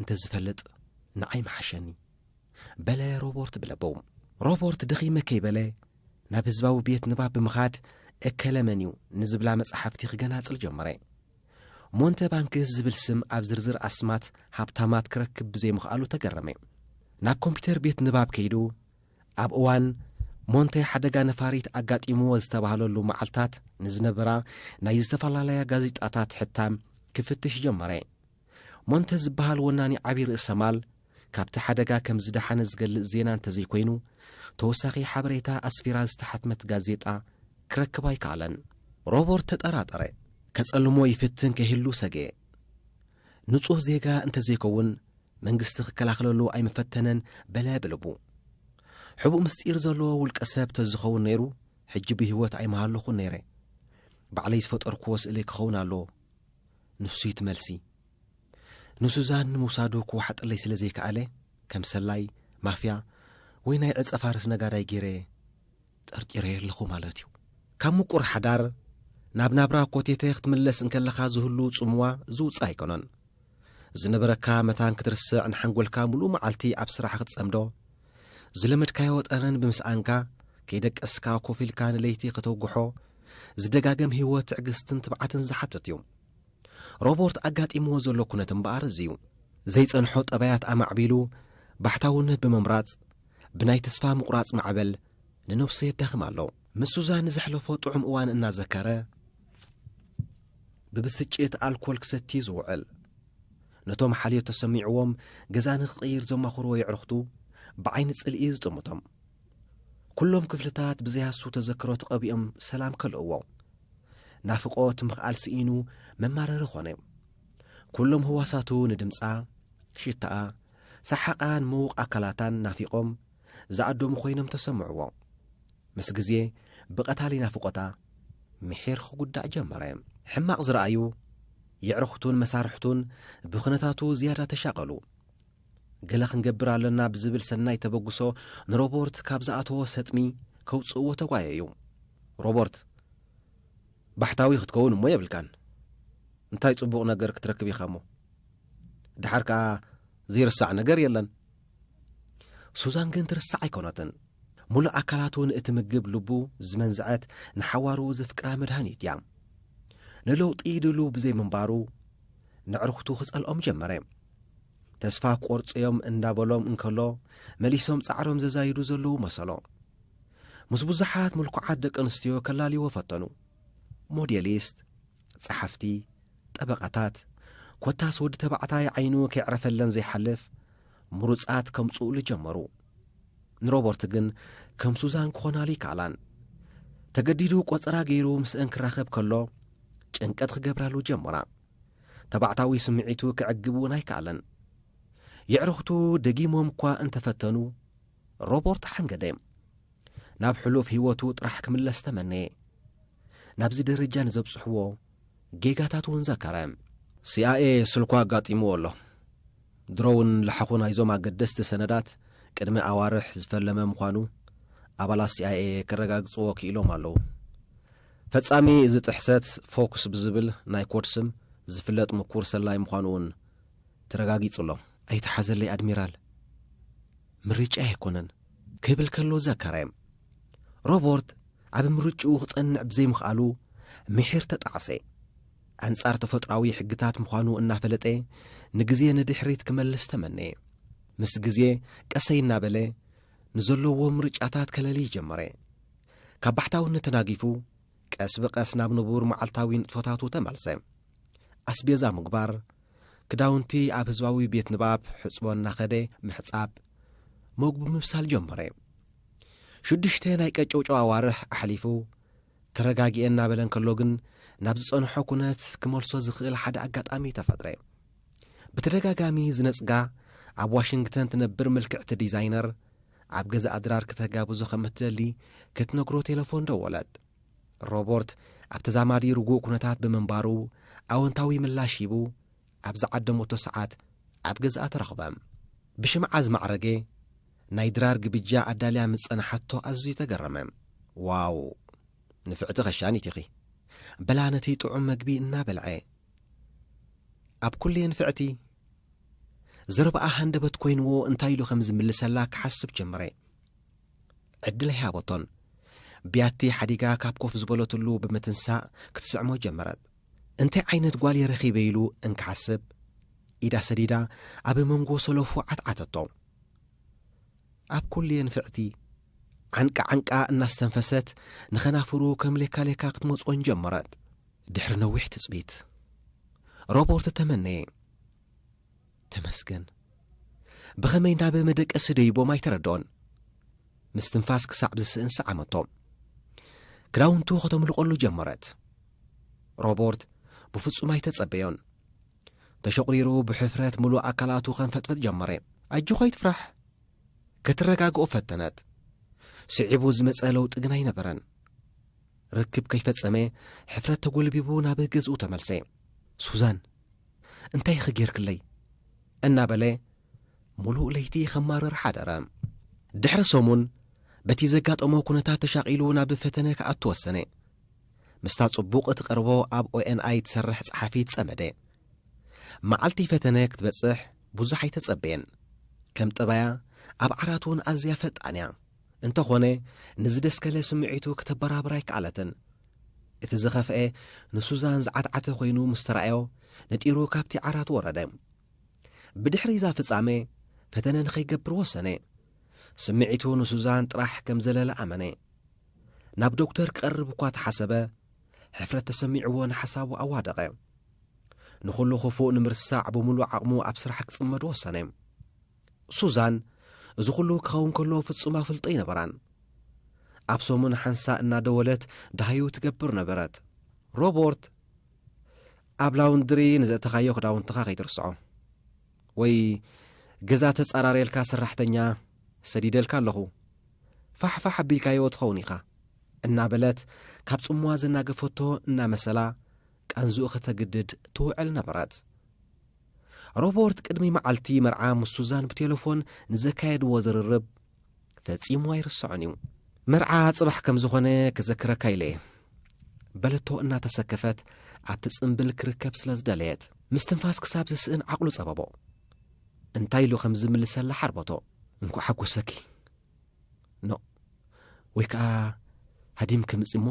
እንተ ዝፈልጥ ንዓይ ምሓሸኒ። በለ ሮቦርት ብለበው። ሮቦርት ደኺመ ከይበለ ናብ ህዝባዊ ቤት ንባብ ብምኻድ እከለ መንዩ ንዝብላ መጻሕፍቲ ክገናጽል ጀመረ። ሞንተባንክስ ዝብል ስም ኣብ ዝርዝር ኣስማት ሃብታማት ክረክብ ብዘይምኽኣሉ ተገረመ። ናብ ኮምፒተር ቤት ንባብ ከይዱ ኣብ እዋን ሞንተ ሓደጋ ነፋሪት ኣጋጢምዎ ዝተባህለሉ መዓልታት ንዝነበራ ናይ ዝተፈላለያ ጋዜጣታት ሕታም ክፍትሽ ጀመረ። ሞንተ ዝበሃል ወናኒ ዓቢ ርእሰ ማል ካብቲ ሓደጋ ከም ዝደሓነ ዝገልጽ ዜና እንተዘይኮይኑ ተወሳኺ ሓበሬታ ኣስፊራ ዝተሓትመት ጋዜጣ ክረክብ ኣይከኣለን። ሮቦርት ተጠራጠረ፣ ከጸልሞ ይፍትን ከይህሉ ሰግኤ። ንጹህ ዜጋ እንተዘይከውን መንግስቲ ክከላኸለሉ ኣይምፈተነን በለ ብልቡ። ሕቡእ ምስጢር ዘለዎ ውልቀ ሰብ ተዝኸውን ነይሩ ሕጂ ብህይወት ኣይምሃለኹን ነይረ። ባዕለይ ዝፈጠርኩዎ ስእሊ ክኸውን ኣለዎ። ንሱ'ዩ'ቲ መልሲ። ንሱዛን ንምውሳዱ ክወሓጠለይ ስለ ዘይከኣለ፣ ከም ሰላይ፣ ማፍያ፣ ወይ ናይ ዕጸ ፋርስ ነጋዳይ ገይረ ጠርጢረዮ ኣለኹ ማለት'ዩ። ካብ ምቁር ሓዳር ናብ ናብራ ኮቴቴ ክትምለስ እንከለኻ ዝህሉ ጽምዋ ዝውጻእ ኣይኮነን። ዝነበረካ መታን ክትርስዕ ንሓንጎልካ ምሉእ መዓልቲ ኣብ ስራሕ ክትጸምዶ፣ ዝለመድካዮ ጠረን ብምስኣንካ ከይደቀስካ ኮፍ ኢልካ ንለይቲ ከተውግሖ ዝደጋገም ህይወት ትዕግስትን ትብዓትን ዝሓትት'ዩ። ሮቦርት ኣጋጢምዎ ዘሎ ኩነት እምበኣር እዚ'ዩ። ዘይጸንሖ ጠባያት ኣማዕቢሉ ባሕታውነት ብምምራጽ፣ ብናይ ተስፋ ምቑራጽ ማዕበል ንነብሱ የዳኽም ኣሎ። ምስ ሱዛን ንዘሕለፎ ጥዑም እዋን እናዘከረ፣ ብብስጭት ኣልኮል ክሰቲ'ዩ ዝውዕል። ነቶም ሓልዮት ተሰሚዕዎም ገዛ ንኽቕይር ዘማኽርዎ የዕሩኽቱ ብዓይኒ ጽልኢ'ዩ ዝጥምቶም። ኩሎም ክፍልታት ብዘይሃሱ ተዘክሮ ተቐቢኦም ሰላም ከልእዎ። ናፍቖት ምኽኣል ስኢኑ መማረሪ ኾነ። ኩሎም ህዋሳቱ ንድምጻ፣ ሽታኣ፣ ሰሓቓን ምዉቕ ኣካላታን ናፊቖም ዝኣደሙ ኮይኖም ተሰምዕዎ። ምስ ግዜ ብቐታሊ ናፍቖታ ምሒር ኽጉዳእ ጀመረ። ሕማቕ ዝረኣዩ የዕርኹቱን መሳርሕቱን ብኽነታቱ ዝያዳ ተሻቐሉ። ገለ ክንገብር ኣለና ብዝብል ሰናይ ተበግሶ ንሮቦርት ካብ ዝኣተዎ ሰጥሚ ከውጽእዎ ተጓየዩ። ሮቦርት፣ ባሕታዊ ክትከውን እሞ የብልካን። እንታይ ጽቡቕ ነገር ክትረክብ ኢኻ እሞ? ደሓር ከኣ ዘይርሳዕ ነገር የለን። ሱዛን ግን ትርሳዕ ኣይኮነትን። ሙሉእ ኣካላቱ ንእትምግብ ልቡ ዝመንዝዐት ንሓዋሩ ዘፍቅራ መድሃኒት እያ። ንለውጢ ድሉው ብዘይምንባሩ ነዕርኽቱ ክጸልኦም ጀመረ። ተስፋ ክቆርጹ'ዮም እንዳበሎም እንከሎ መሊሶም ጻዕሮም ዘዛይዱ ዘለዉ መሰሎ። ምስ ብዙሓት ምልኩዓት ደቂ ኣንስትዮ ከላልይዎ ፈተኑ። ሞዴሊስት፣ ጸሓፍቲ፣ ጠበቓታት፣ ኮታስ ወዲ ተባዕታይ ዓይኑ ከየዕረፈለን ዘይሓልፍ ምሩጻት ከምጽኡሉ ጀመሩ። ንሮበርት ግን ከም ሱዛን ክኾናሉ ኣይከኣላን። ተገዲዱ ቆጸራ ገይሩ ምስእን ክራኸብ ከሎ ጭንቀት ክገብራሉ ጀመራ። ተባዕታዊ ስምዒቱ ከዕግብ እውን ኣይከኣለን። የዕሩኽቱ ደጊሞም እኳ እንተ ፈተኑ፣ ሮቦርት ሓንገደ። ናብ ሕሉፍ ህይወቱ ጥራሕ ክምለስ ተመነየ። ናብዚ ደረጃ ንዘብጽሕዎ ጌጋታት እውን ዘከረ። ሲኣይኤ ስልኩ ኣጋጢምዎ ኣሎ። ድሮ'ውን ላሓዂ ናይዞም ኣገደስቲ ሰነዳት ቅድሚ ኣዋርሕ ዝፈለመ ምዃኑ ኣባላት ሲኣይኤ ከረጋግጽዎ ክኢሎም ኣለዉ። ፈጻሚ እዚ ጥሕሰት ፎክስ ብዝብል ናይ ኮድ ስም ዝፍለጥ ምኩር ሰላይ ምዃኑ'ውን ተረጋጊጹ'ሎ። ኣይትሓዘለይ ኣድሚራል፣ ምርጫይ ኣይኮነን ክብል ከሎ ዘከረ። ሮበርት ኣብ ምርጭኡ ክጸንዕ ብዘይምኽኣሉ ምሒር ተጣዕሰ። ኣንጻር ተፈጥሮኣዊ ሕግታት ምዃኑ እናፈለጠ ንግዜ ንድሕሪት ክመልስ ተመነየ። ምስ ግዜ ቀሰይ እናበለ ንዘለዎ ምርጫታት ከለልይ ጀመረ። ካብ ባሕታውነት ተናጊፉ ቀስ ብቐስ ናብ ንቡር መዓልታዊ ንጥፈታቱ ተመልሰ። ኣስቤዛ ምግባር፣ ክዳውንቲ ኣብ ህዝባዊ ቤት ንባብ ሕጽቦ እናኸደ ምሕጻብ፣ መግቡ ምብሳል ጀመረ። ሽዱሽተ ናይ ቀጨውጨው ኣዋርሕ ኣሕሊፉ፣ ተረጋጊኤ እናበለ እንከሎ ግን ናብ ዝጸንሖ ኩነት ክመልሶ ዝኽእል ሓደ ኣጋጣሚ ተፈጥረ። ብተደጋጋሚ ዝነጽጋ ኣብ ዋሽንግተን ትነብር ምልክዕቲ ዲዛይነር፣ ኣብ ገዛኣ ድራር ክተጋብዞ ከም እትደሊ ክትነግሮ ቴለፎን ደወለት። ሮበርት ኣብ ተዛማዲ ርጉእ ኩነታት ብምንባሩ ኣወንታዊ ምላሽ ሂቡ ኣብ ዝዓደመቶ ሰዓት ኣብ ገዝኣ ተረኽበ። ብሽምዓ ዝማዕረገ ናይ ድራር ግብጃ ኣዳልያ ምስ ጸንሓቶ ኣዝዩ ተገረመ። ዋው! ንፍዕቲ ከሻኒት ኢኺ! በላ ነቲ ጥዑም መግቢ እናበልዐ። ኣብ ኩሉ የንፍዕቲ! ዘረባኣ ሃንደበት ኮይንዎ እንታይ ኢሉ ከም ዝምልሰላ ክሓስብ ጀመረ። ዕድል ኣይሃበቶን። ብያቲ ሓዲጋ ካብ ኮፍ ዝበለትሉ ብምትንሳእ ክትስዕሞ ጀመረት። እንታይ ዓይነት ጓል'የ ረኺበ ኢሉ እንክሓስብ፣ ኢዳ ሰዲዳ ኣብ መንጎ ሰለፉ ዓትዓተቶ። ኣብ ኩሉ'የ ንፍዕቲ። ዓንቃ ዓንቃ እናስተንፈሰት ንኸናፍሩ ከም ሌካሌካ ክትመጾን ጀመረት። ድሕሪ ነዊሕ ትጽቢት፣ ሮቦርት ተመነየ። ተመስገን ብኸመይ ናብ መደቀሲ ደይቦም ኣይተረድኦን ምስ ትንፋስ ክሳዕ ዝስእን ሰዓመቶ ክዳውንቱ ከተምልቖሉ ጀመረት ሮቦርት ብፍጹም ኣይተጸበዮን ተሸቝሪሩ ብሕፍረት ምሉእ ኣካላቱ ከንፈጥፈጥ ጀመረ ኣጆኻ ይትፍራሕ ከትረጋግኦ ፈተነት ስዒቡ ዝመጸ ለውጢ ግን ኣይነበረን ርክብ ከይፈጸመ ሕፍረት ተጐልቢቡ ናብ ገዝኡ ተመልሰ ሱዛን እንታይኺ ጌርክለይ? እናበለ ምሉእ ለይቲ ኸማርር ሓደረ። ድሕሪ ሰሙን በቲ ዘጋጠሞ ኩነታት ተሻቒሉ ናብ ፈተነ ክኣቱ ወሰነ። ምስታ ጽቡቕ እትቐርቦ ኣብ ኦኤንኣይ እትሰርሕ ጸሓፊት ጸመደ። መዓልቲ ፈተነ ክትበጽሕ ብዙሕ ኣይተጸበየን። ከም ጠባያ ኣብ ዓራት እውን ኣዝያ ፈጣን እያ። እንተኾነ ንዝደስከለ ስምዒቱ ክተበራብር ኣይከኣለትን። እቲ ዝኸፍኤ ንሱዛን ዝዓትዓተ ኮይኑ ምስ ተራእዮ ነጢሩ ካብቲ ዓራት ወረደ። ብድሕሪ እዛ ፍጻመ ፈተነ ንኸይገብር ወሰነ። ስምዒቱ ንሱዛን ጥራሕ ከም ዘለለ ኣመነ። ናብ ዶክተር ክቐርብ እኳ ተሓሰበ፣ ሕፍረት ተሰሚዕዎ ንሓሳቡ ኣዋደቐ። ንኹሉ ክፉእ ንምርሳዕ ብምሉእ ዓቕሙ ኣብ ስራሕ ክጽመድ ወሰነ። ሱዛን እዚ ኹሉ ክኸውን ከሎ ፍጹም ኣፍልጦ ኣይነበራን። ኣብ ሰሙን ሓንሳእ እናደወለት ደሃዩ ትገብር ነበረት። ሮቦርት ኣብ ላውንድሪ ንዘእተኻዮ ክዳውንትኻ ከይትርስዖ ወይ ገዛ ተጻራርየልካ ሰራሕተኛ ሰዲደልካ ኣለኹ ፋሕፋሕ ኣቢልካዮ ትኸውን ኢኻ እናበለት ካብ ጽምዋ ዘናገፈቶ እናመሰላ ቃንዝኡ ከተግድድ ትውዕል ነበረት። ሮበርት ቅድሚ መዓልቲ መርዓ ምስ ሱዛን ብቴለፎን ንዘካየድዎ ዝርርብ ፈጺሙ ኣይርስዖን እዩ። መርዓ ጽባሕ ከም ዝኾነ ክዘክረካ ኢለ'የ። በለቶ እናተሰከፈት ኣብቲ ጽምብል ክርከብ ስለ ዝደለየት። ምስትንፋስ ክሳብ ዝስእን ዓቕሉ ጸበቦ። እንታይ ኢሉ ከም ዝምልሰላ ሓርበቶ። እንኳዕ ሓጎሰኪ። ኖእ ወይ ከኣ ሃዲም ክምጽ እሞ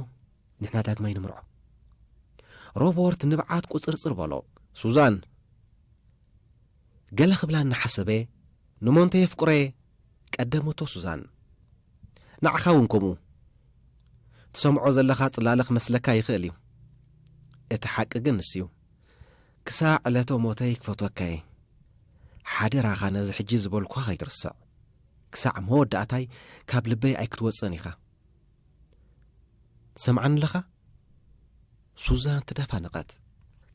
ንሕና ዳግማይ ንምርዖ ሮቦርት ንብዓት ቁጽርጽር በሎ ሱዛን ገለ ክብላ እናሓሰበ ንሞንተ የፍቅሮ እየ ቀደመቶ ሱዛን ንዓኻ እውን ከምኡ ትሰምዖ ዘለኻ ጽላለ ክመስለካ ይኽእል እዩ እቲ ሓቂ ግን ንስ እዩ ክሳዕ ዕለተ ሞተይ ክፈትወካ እየ ሓደራኻ ነዚ ሕጂ ዝበልኳ ኸይትርስዕ ክሳዕ መወዳእታይ ካብ ልበይ ኣይክትወጽእን ኢኻ። ትሰምዓኒ ኣለኻ? ሱዛን ተደፋነቐት።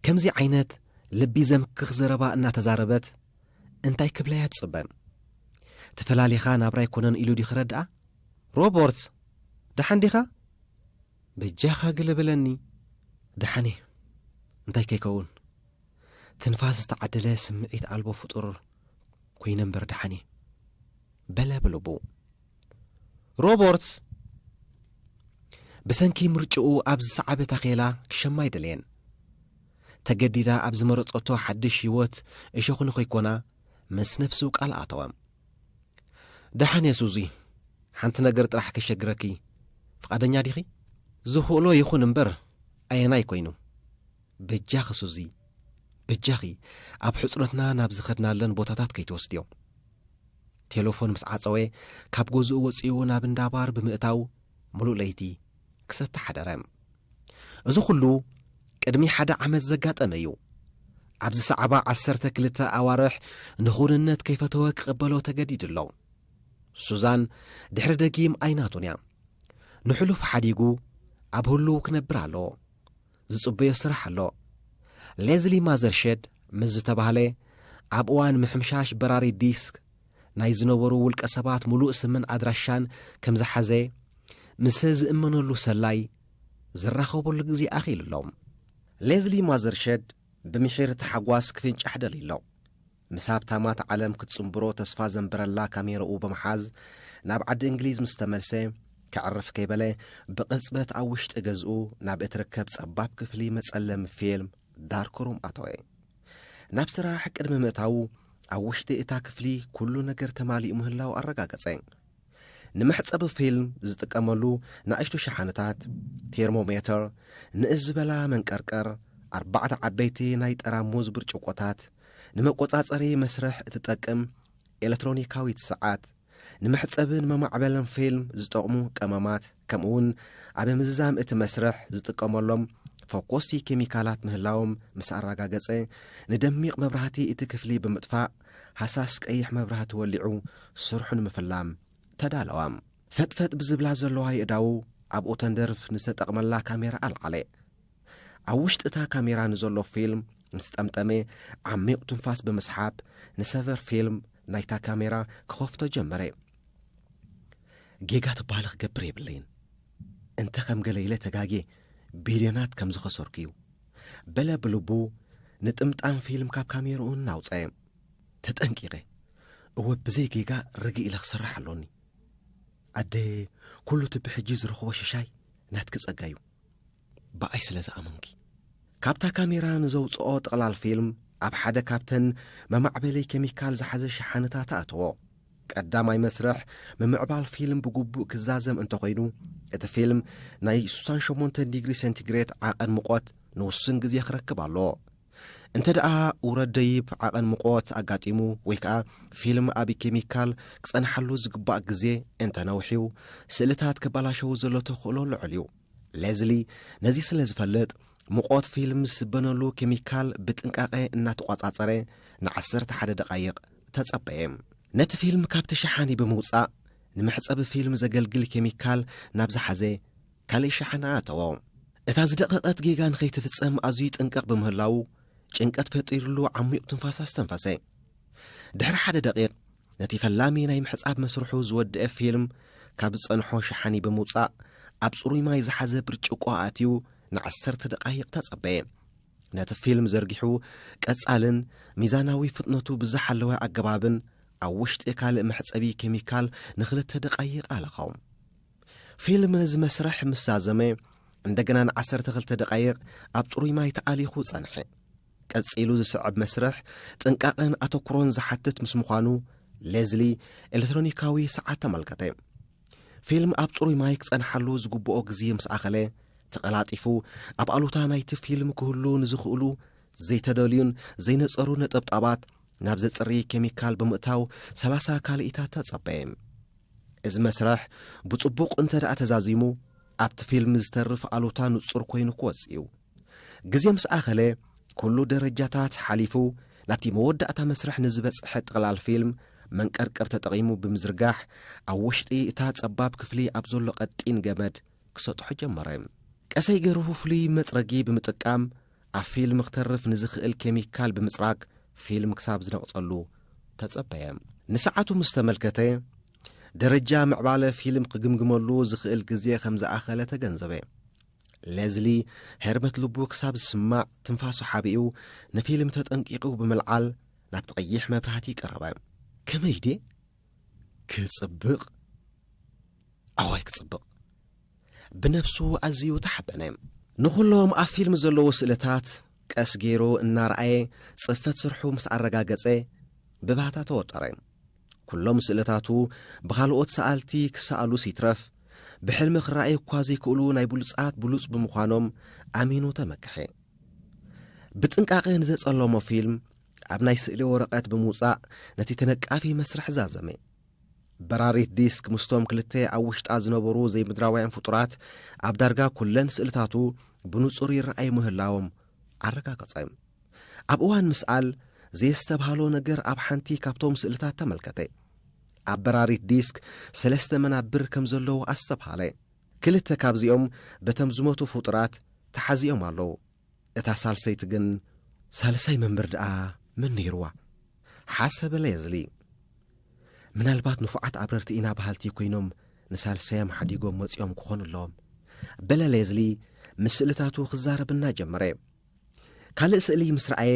ከምዚ ዓይነት ልቢ ዘምክኽ ዘረባ እናተዛረበት እንታይ ክብላያ ትጽበን? ተፈላሊኻ ናብራ ኣይኮነን ኢሉ ድዩ ክረድኣ? ሮቦርት! ደሓን ዲኻ? በጃኻ ግለ በለኒ። ደሓን እየ። እንታይ ከይከውን ትንፋስ ዝተዓደለ ስምዒት ኣልቦ ፍጡር ኰይነ እምበር ደሓን እየ በለ ብልቡ። ሮበርት ብሰንኪ ምርጭኡ ኣብ ዝሰዓበ ታኼላ ክሸማ ኣይደለየን። ተገዲዳ ኣብ ዝመረጸቶ ሓድሽ ህይወት እሾኽ ንኸይኰና ምስ ነፍሱ ቃል ኣተወ። ደሓን እየ ሱዚ፣ ሓንቲ ነገር ጥራሕ ከሸግረኪ ፍቓደኛ ዲኺ? ዝኽእሎ ይኹን እምበር ኣየናይ ኰይኑ? በጃኺ ሱዚ፣ በጃኺ ኣብ ሕጽኖትና ናብ ዝኸድናለን ቦታታት ከይትወስድዮ። ቴለፎን ምስ ዓጸወ፣ ካብ ገዝኡ ወጺኡ ናብ እንዳ ባር ብምእታው ምሉእ ለይቲ ክሰቲ ሓደረ። እዚ ኹሉ ቅድሚ ሓደ ዓመት ዘጋጠመ እዩ። ኣብ ዝሰዕባ ዓሰርተ ክልተ ኣዋርሕ ንኹንነት ከይፈተወ ክቕበሎ ተገዲዱ ኣሎ። ሱዛን ድሕሪ ደጊም ኣይናቱን እያ። ንሕሉፍ ሓዲጉ ኣብ ህሉው ክነብር ኣለዎ። ዝጽበዮ ስራሕ ኣሎ። ሌዝሊ ማዘርሸድ ምስ ዝተባህለ ኣብ እዋን ምሕምሻሽ በራሪ ዲስክ ናይ ዝነበሩ ውልቀሰባት ምሉእ ስምን ኣድራሻን ከም ዝሓዘ ምሰ ዝእመነሉ ሰላይ ዝራኸበሉ ግዜ ኣኺሉ ኣሎ። ሌዝሊ ማዘርሸድ ብምሒር ታሕጓስ ክፍንጫሕ ደልዩ ኣሎ። ምስ ሃብታማት ዓለም ክትጽንብሮ ተስፋ ዘንበረላ ካሜራኡ ብምሓዝ ናብ ዓዲ እንግሊዝ ምስ ተመልሰ፣ ከዕርፍ ከይበለ ብቕጽበት ኣብ ውሽጢ ገዝኡ ናብ እትርከብ ጸባብ ክፍሊ መጸለሚ ፊልም ዳርክ ሩም ኣተወ። ናብ ስራሕ ቅድሚ ምእታዉ ኣብ ውሽጢ እታ ክፍሊ ኩሉ ነገር ተማሊኡ ምህላዉ ኣረጋገጸ። ንመሕጸቢ ፊልም ዝጥቀመሉ ንኣሽቱ ሸሓነታት፣ ቴርሞሜተር፣ ንእስ ዝበላ መንቀርቀር፣ ኣርባዕተ ዓበይቲ ናይ ጠራሙዝ ብርጭቆታት፣ ንመቆጻጸሪ መስርሕ እትጠቅም ኤለትሮኒካዊት ሰዓት፣ ንመሕጸብን መማዕበልን ፊልም ዝጠቕሙ ቀመማት፣ ከምኡ'ውን ኣብ ምዝዛም እቲ መስርሕ ዝጥቀመሎም ፈኮስቲ ኬሚካላት ምህላዎም ምስ ኣረጋገጸ፣ ንደሚቕ መብራህቲ እቲ ክፍሊ ብምጥፋእ፣ ሃሳስ ቀይሕ መብራህቲ ወሊዑ ስርሑ ንምፍላም ተዳለወ። ፈጥፈጥ ብዝብላ ዘለዋ የእዳዉ ኣብኡ ተንደርፍ ንዝተጠቕመላ ካሜራ ኣልዓለ። ኣብ ውሽጢ እታ ካሜራ ንዘሎ ፊልም ምስ ጠምጠመ፣ ዓሚቕ ትንፋስ ብምስሓብ ንሰቨር ፊልም ናይታ ካሜራ ክኸፍቶ ጀመረ። ጌጋ ተባህለ ክገብር የብለይን እንተ ኸም ገለ ኢለ ተጋጌ ቢልዮናት ከም ዝኸሰርኩ እዩ በለ ብልቡ ንጥምጣም ፊልም ካብ ካሜርኡ እናውፀየ ተጠንቂቐ እወ ብዘይ ጌጋ ርግእ ኢለ ክሰርሕ ኣሎኒ ኣደ ኩሉ እቲ ብሕጂ ዝረኽቦ ሽሻይ ናትኪ ጸጋ እዩ ብኣይ ስለ ዝኣመንኪ። ካብታ ካሜራ ንዘውጽኦ ጥቕላል ፊልም ኣብ ሓደ ካብተን መማዕበሊ ኬሚካል ዝሓዘ ሸሓነታት ኣእተዎ። ቀዳማይ መስርሕ ምምዕባል ፊልም ብግቡእ ክዛዘም እንተኾይኑ፣ እቲ ፊልም ናይ ስሳን ሸሞንተን ዲግሪ ሰንቲግሬት ዓቐን ሙቖት ንውሱን ግዜ ክረክብ ኣለዎ። እንተደኣ ውረድ ደይብ ዓቐን ሙቖት ኣጋጢሙ ወይ ከኣ ፊልም ኣብ ኬሚካል ክጸንሓሉ ዝግባእ ግዜ እንተነውሒው፣ ስእልታት ከባላሸው ዘሎ ተኽእሎ ልዑል እዩ። ሌዝሊ ነዚ ስለ ዝፈልጥ ሙቖት ፊልም ዝስበነሉ ኬሚካል ብጥንቃቐ እናተቖጻጸረ ንዓሰርተ ሓደ ደቓይቕ ተጸበየ። ነቲ ፊልም ካብቲ ሸሓኒ ብምውጻእ ንመሕጸቢ ፊልም ዘገልግል ኬሚካል ናብ ዝሓዘ ካልእ ሸሓኒ ኣእተዎ። እታ ዝደቐቐት ጌጋ ንኸይትፍጸም ኣዝዩ ይጥንቀቕ ብምህላዉ ጭንቀት ፈጢርሉ ዓሚቝ ትንፋስ ኣስተንፈሰ። ድሕሪ ሓደ ደቒቕ ነቲ ፈላሚ ናይ ምሕጻብ መስርሑ ዝወድኤ ፊልም ካብ ዝጸንሖ ሸሓኒ ብምውጻእ ኣብ ጽሩይ ማይ ዝሓዘ ብርጭቆ ኣእትዩ ንዓሰርተ ደቓይቕ ተጸበየ። ነቲ ፊልም ዘርጊሑ ቀጻልን ሚዛናዊ ፍጥነቱ ብዝሓለወ ኣገባብን ኣብ ውሽጢ ካልእ መሕጸቢ ኬሚካል ንክልተ ደቓይቕ ኣለኾ። ፊልም ነዚ መስርሕ ምስ ዛዘመ እንደገና ንዓሰርተ ክልተ ደቓይቕ ኣብ ጽሩይ ማይ ተኣሊኹ ጸንሐ። ቀጺሉ ዝስዕብ መስርሕ ጥንቃቐን ኣተኩሮን ዝሓትት ምስ ምዃኑ ሌዝሊ ኤሌክትሮኒካዊ ሰዓት ተመልከተ። ፊልም ኣብ ጽሩይ ማይ ክጸንሓሉ ዝግብኦ ግዜ ምስ ኣኸለ ተቐላጢፉ ኣብ ኣሉታ ናይቲ ፊልም ክህሉ ንዝኽእሉ ዘይተደልዩን ዘይነጸሩ ነጠብጣባት ናብ ዘጽሪ ኬሚካል ብምእታው ሰላሳ ካልኢታት ተጸበየ። እዚ መስርሕ ብጽቡቕ እንተ ደኣ ተዛዚሙ ኣብቲ ፊልም ዝተርፍ ኣሉታ ንጹር ኮይኑ ክወጽእ እዩ። ግዜ ምስ ኣኸለ ኩሉ ደረጃታት ሓሊፉ ናብቲ መወዳእታ መስርሕ ንዝበጽሐ ጥቕላል ፊልም መንቀርቅር ተጠቒሙ ብምዝርጋሕ ኣብ ወሽጢ እታ ጸባብ ክፍሊ ኣብ ዘሎ ቀጢን ገመድ ክሰጥሖ ጀመረ። ቀሰይ ገርሁ ፍሉይ መጽረጊ ብምጥቃም ኣብ ፊልም ክተርፍ ንዝኽእል ኬሚካል ብምጽራግ ፊልም ክሳብ ዝነቕጸሉ ተጸበየ። ንሰዓቱ ምስ ተመልከተ ደረጃ ምዕባለ ፊልም ክግምግመሉ ዝኽእል ግዜ ከም ዝኣኸለ ተገንዘበ። ሌዝሊ ሄርበት ልቡ ክሳብ ዝስማዕ ትንፋሱ ሓቢኡ ንፊልም ተጠንቂቑ ብምልዓል ናብቲ ቀይሕ መብራህቲ ቀረበ ከመይ ድየ ክጽብቕ ኣዋይ ክጽብቕ ብነብሱ ኣዝዩ ተሓበነ ንዅሎም ኣብ ፊልም ዘለዉ ስእልታት ቀስ ገይሩ እናረኣየ ጽፈት ስርሑ ምስ ኣረጋገጸ ብባህታ ተወጠረ ኩሎም ስእልታቱ ብኻልኦት ሰኣልቲ ክሰኣሉስ ይትረፍ ብሕልሚ ክረኣዩ እኳ ዘይክእሉ ናይ ብሉጻት ብሉጽ ብምዃኖም ኣሚኑ ተመክሐ። ብጥንቃቐ ንዘጸለሞ ፊልም ኣብ ናይ ስእሊ ወረቐት ብምውጻእ ነቲ ተነቃፊ መስርሕ ዛዘመ። በራሪት ዲስክ ምስቶም ክልተ ኣብ ውሽጣ ዝነበሩ ዘይምድራውያን ፍጡራት ኣብ ዳርጋ ኩለን ስእልታቱ ብንጹር ይረኣዩ ምህላዎም ኣረጋገጸ። ኣብ እዋን ምስኣል ዘየስተብሃሎ ነገር ኣብ ሓንቲ ካብቶም ስእልታት ተመልከተ። ኣብ በራሪት ዲስክ ሰለስተ መናብር ከም ዘለዉ ኣስተብሃለ። ክልተ ካብዚኦም በቶም ዝሞቱ ፍጡራት ተሓዚኦም ኣለዉ፣ እታ ሳልሰይቲ ግን። ሳልሳይ መንብር ደኣ መን ነይርዋ? ሓሰበ ሌዝሊ። ምናልባት ንፉዓት ኣብረርቲ ኢና በሃልቲ ኰይኖም ንሳልሳዮም ሓዲጎም መጺኦም ክዀኑ ኣለዎም፣ በለ ሌዝሊ ምስ ስእልታቱ ክዛረብ እናጀመረ። ካልእ ስእሊ ምስ ረኣየ፣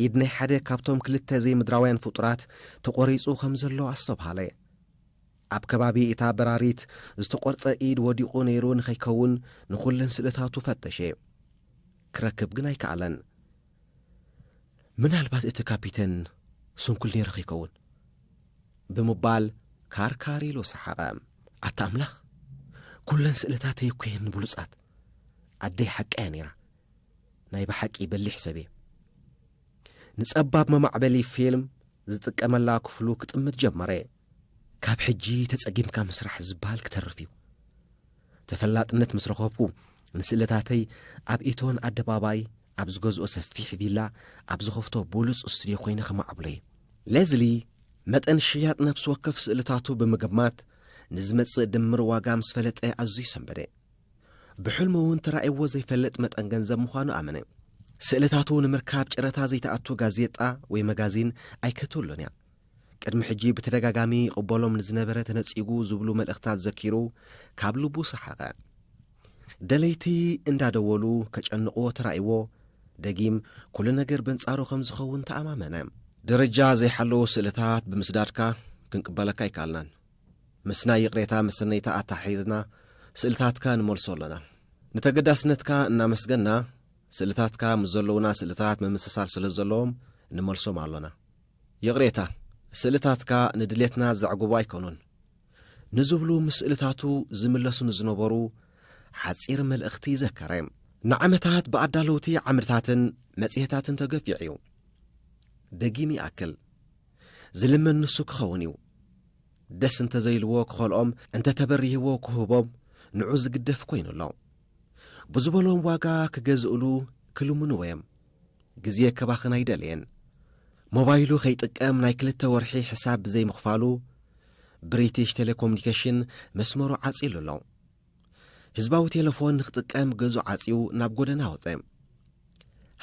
ኢድ ናይ ሓደ ካብቶም ክልተ ዘይምድራውያን ፍጡራት ተቖሪጹ ከም ዘሎ ኣስተብሃለ። ኣብ ከባቢ እታ በራሪት ዝተቖርጸ ኢድ ወዲቑ ነይሩ ንኸይከውን ንኹለን ስእልታቱ ፈተሸ። ክረክብ ግን ኣይከኣለን። ምናልባት እቲ ካፒተን ስንኩል ነይሩ ኸይከውን? ብምባል ካርካር ኢሉ ሰሓቐ። ኣታ ኣምላኽ! ኩለን ስእልታተይ እኮ'የን ብሉጻት። ኣደይ ሓቃ'ያ ነይራ። ናይ ብሓቂ በሊሕ ሰብ እየ። ንጸባብ መማዕበሊ ፊልም ዝጥቀመላ ክፍሉ ክጥምት ጀመረ። ካብ ሕጂ ተጸጊምካ ምስራሕ ዝበሃል ክተርፍ እዩ። ተፈላጥነት ምስ ረኸብኩ ንስእልታተይ ኣብ ኢቶን ኣደባባይ ኣብ ዝገዝኦ ሰፊሕ ቪላ ኣብ ዝኸፍቶ ብሉጽ ስቱድዮ ኮይነ ከማዕብሎ እየ። ሌዝሊ መጠን ሽያጥ ነፍሲ ወከፍ ስእልታቱ ብምግማት ንዝመጽእ ድምር ዋጋ ምስ ፈለጠ ኣዝዩ ሰንበደ። ብሕልሙ እውን ተራእይዎ ዘይፈልጥ መጠን ገንዘብ ምዃኑ ኣመነ። ስእልታቱ ንምርካብ ጨረታ ዘይተኣቱ ጋዜጣ ወይ መጋዚን ኣይከተሎን እያ። ቅድሚ ሕጂ ብተደጋጋሚ ይቕበሎም ንዝነበረ ተነጺጉ ዝብሉ መልእኽታት ዘኪሩ ካብ ልቡ ሰሓቐ። ደለይቲ እንዳደወሉ ከጨንቕዎ ተራእይዎ ደጊም ኩሉ ነገር በንጻሩ ከም ዝኸውን ተኣማመነ። ደረጃ ዘይሓለዉ ስእልታት ብምስዳድካ ክንቅበለካ ኣይከኣልናን። ምስ ናይ ይቕሬታ መሰነይታ ኣተሓሒዝና ስእልታትካ ንመልሶ ኣሎና። ንተገዳስነትካ እናመስገና፣ ስእልታትካ ምስ ዘለዉና ስእልታት ምምስሳል ስለ ዘለዎም ንመልሶም ኣሎና። ይቕሬታ፣ ስእልታትካ ንድሌትና ዘዕግቡ ኣይኮኑን። ንዝብሉ ምስ ስእልታቱ ዝምለሱ ንዝነበሩ ሓጺር መልእኽቲ ዘከረ። ንዓመታት ብኣዳለውቲ ዓምድታትን መጽሔታትን ተገፊዑ እዩ። ደጊም ይኣክል። ዝልመን ንሱ ክኸውን እዩ። ደስ እንተ ዘይልዎ ክኸልኦም፣ እንተ ተበሪህዎ ክህቦም ንዑ ዝግደፍ ኮይኑ ኣሎ። ብዝበሎም ዋጋ ክገዝእሉ ክልምንዎ እዮም። ግዜ ከባኽን ኣይደለየን። ሞባይሉ ከይጥቀም ናይ ክልተ ወርሒ ሕሳብ ብዘይምኽፋሉ ብሪቲሽ ቴሌኮሙኒኬሽን መስመሩ ዓጺሉ ኣሎ። ህዝባዊ ቴለፎን ንክጥቀም ገዙ ዓጽዩ ናብ ጎደና ወጸ።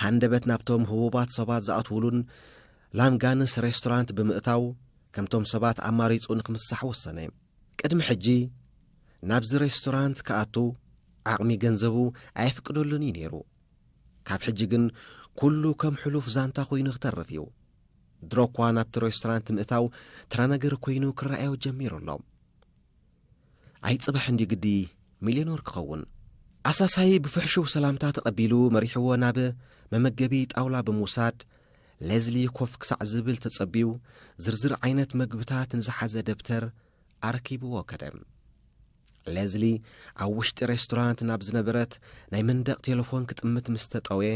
ሃንደበት ናብቶም ህቡባት ሰባት ዝኣትውሉን ላንጋንስ ሬስቶራንት ብምእታው ከምቶም ሰባት ኣማሪጹ ንክምሳሕ ወሰነ። ቅድሚ ሕጂ ናብዚ ሬስቶራንት ክኣቱ ዓቕሚ ገንዘቡ ኣየፍቅደሉን እዩ ነይሩ። ካብ ሕጂ ግን ኩሉ ከም ሕሉፍ ዛንታ ኮይኑ ክተርፍ እዩ። ድሮ እኳ ናብቲ ሬስቶራንት ምእታው ተራ ነገር ኮይኑ ክረኣዮ ጀሚሩ ኣሎ። ኣይ ጽባሕ እንድዩ ግዲ ሚልዮኖር ክኸውን። ኣሳሳዪ ብፍሕሹው ሰላምታ ተቐቢሉ መሪሕዎ ናብ መመገቢ ጣውላ ብምውሳድ፣ ሌዝሊ ኮፍ ክሳዕ ዝብል ተጸብዩ ዝርዝር ዓይነት መግብታት ንዝሓዘ ደብተር ኣረኪብዎ ከደ። ሌዝሊ ኣብ ውሽጢ ሬስቶራንት ናብ ዝነበረት ናይ መንደቕ ቴለፎን ክጥምት ምስ ተጠውየ፣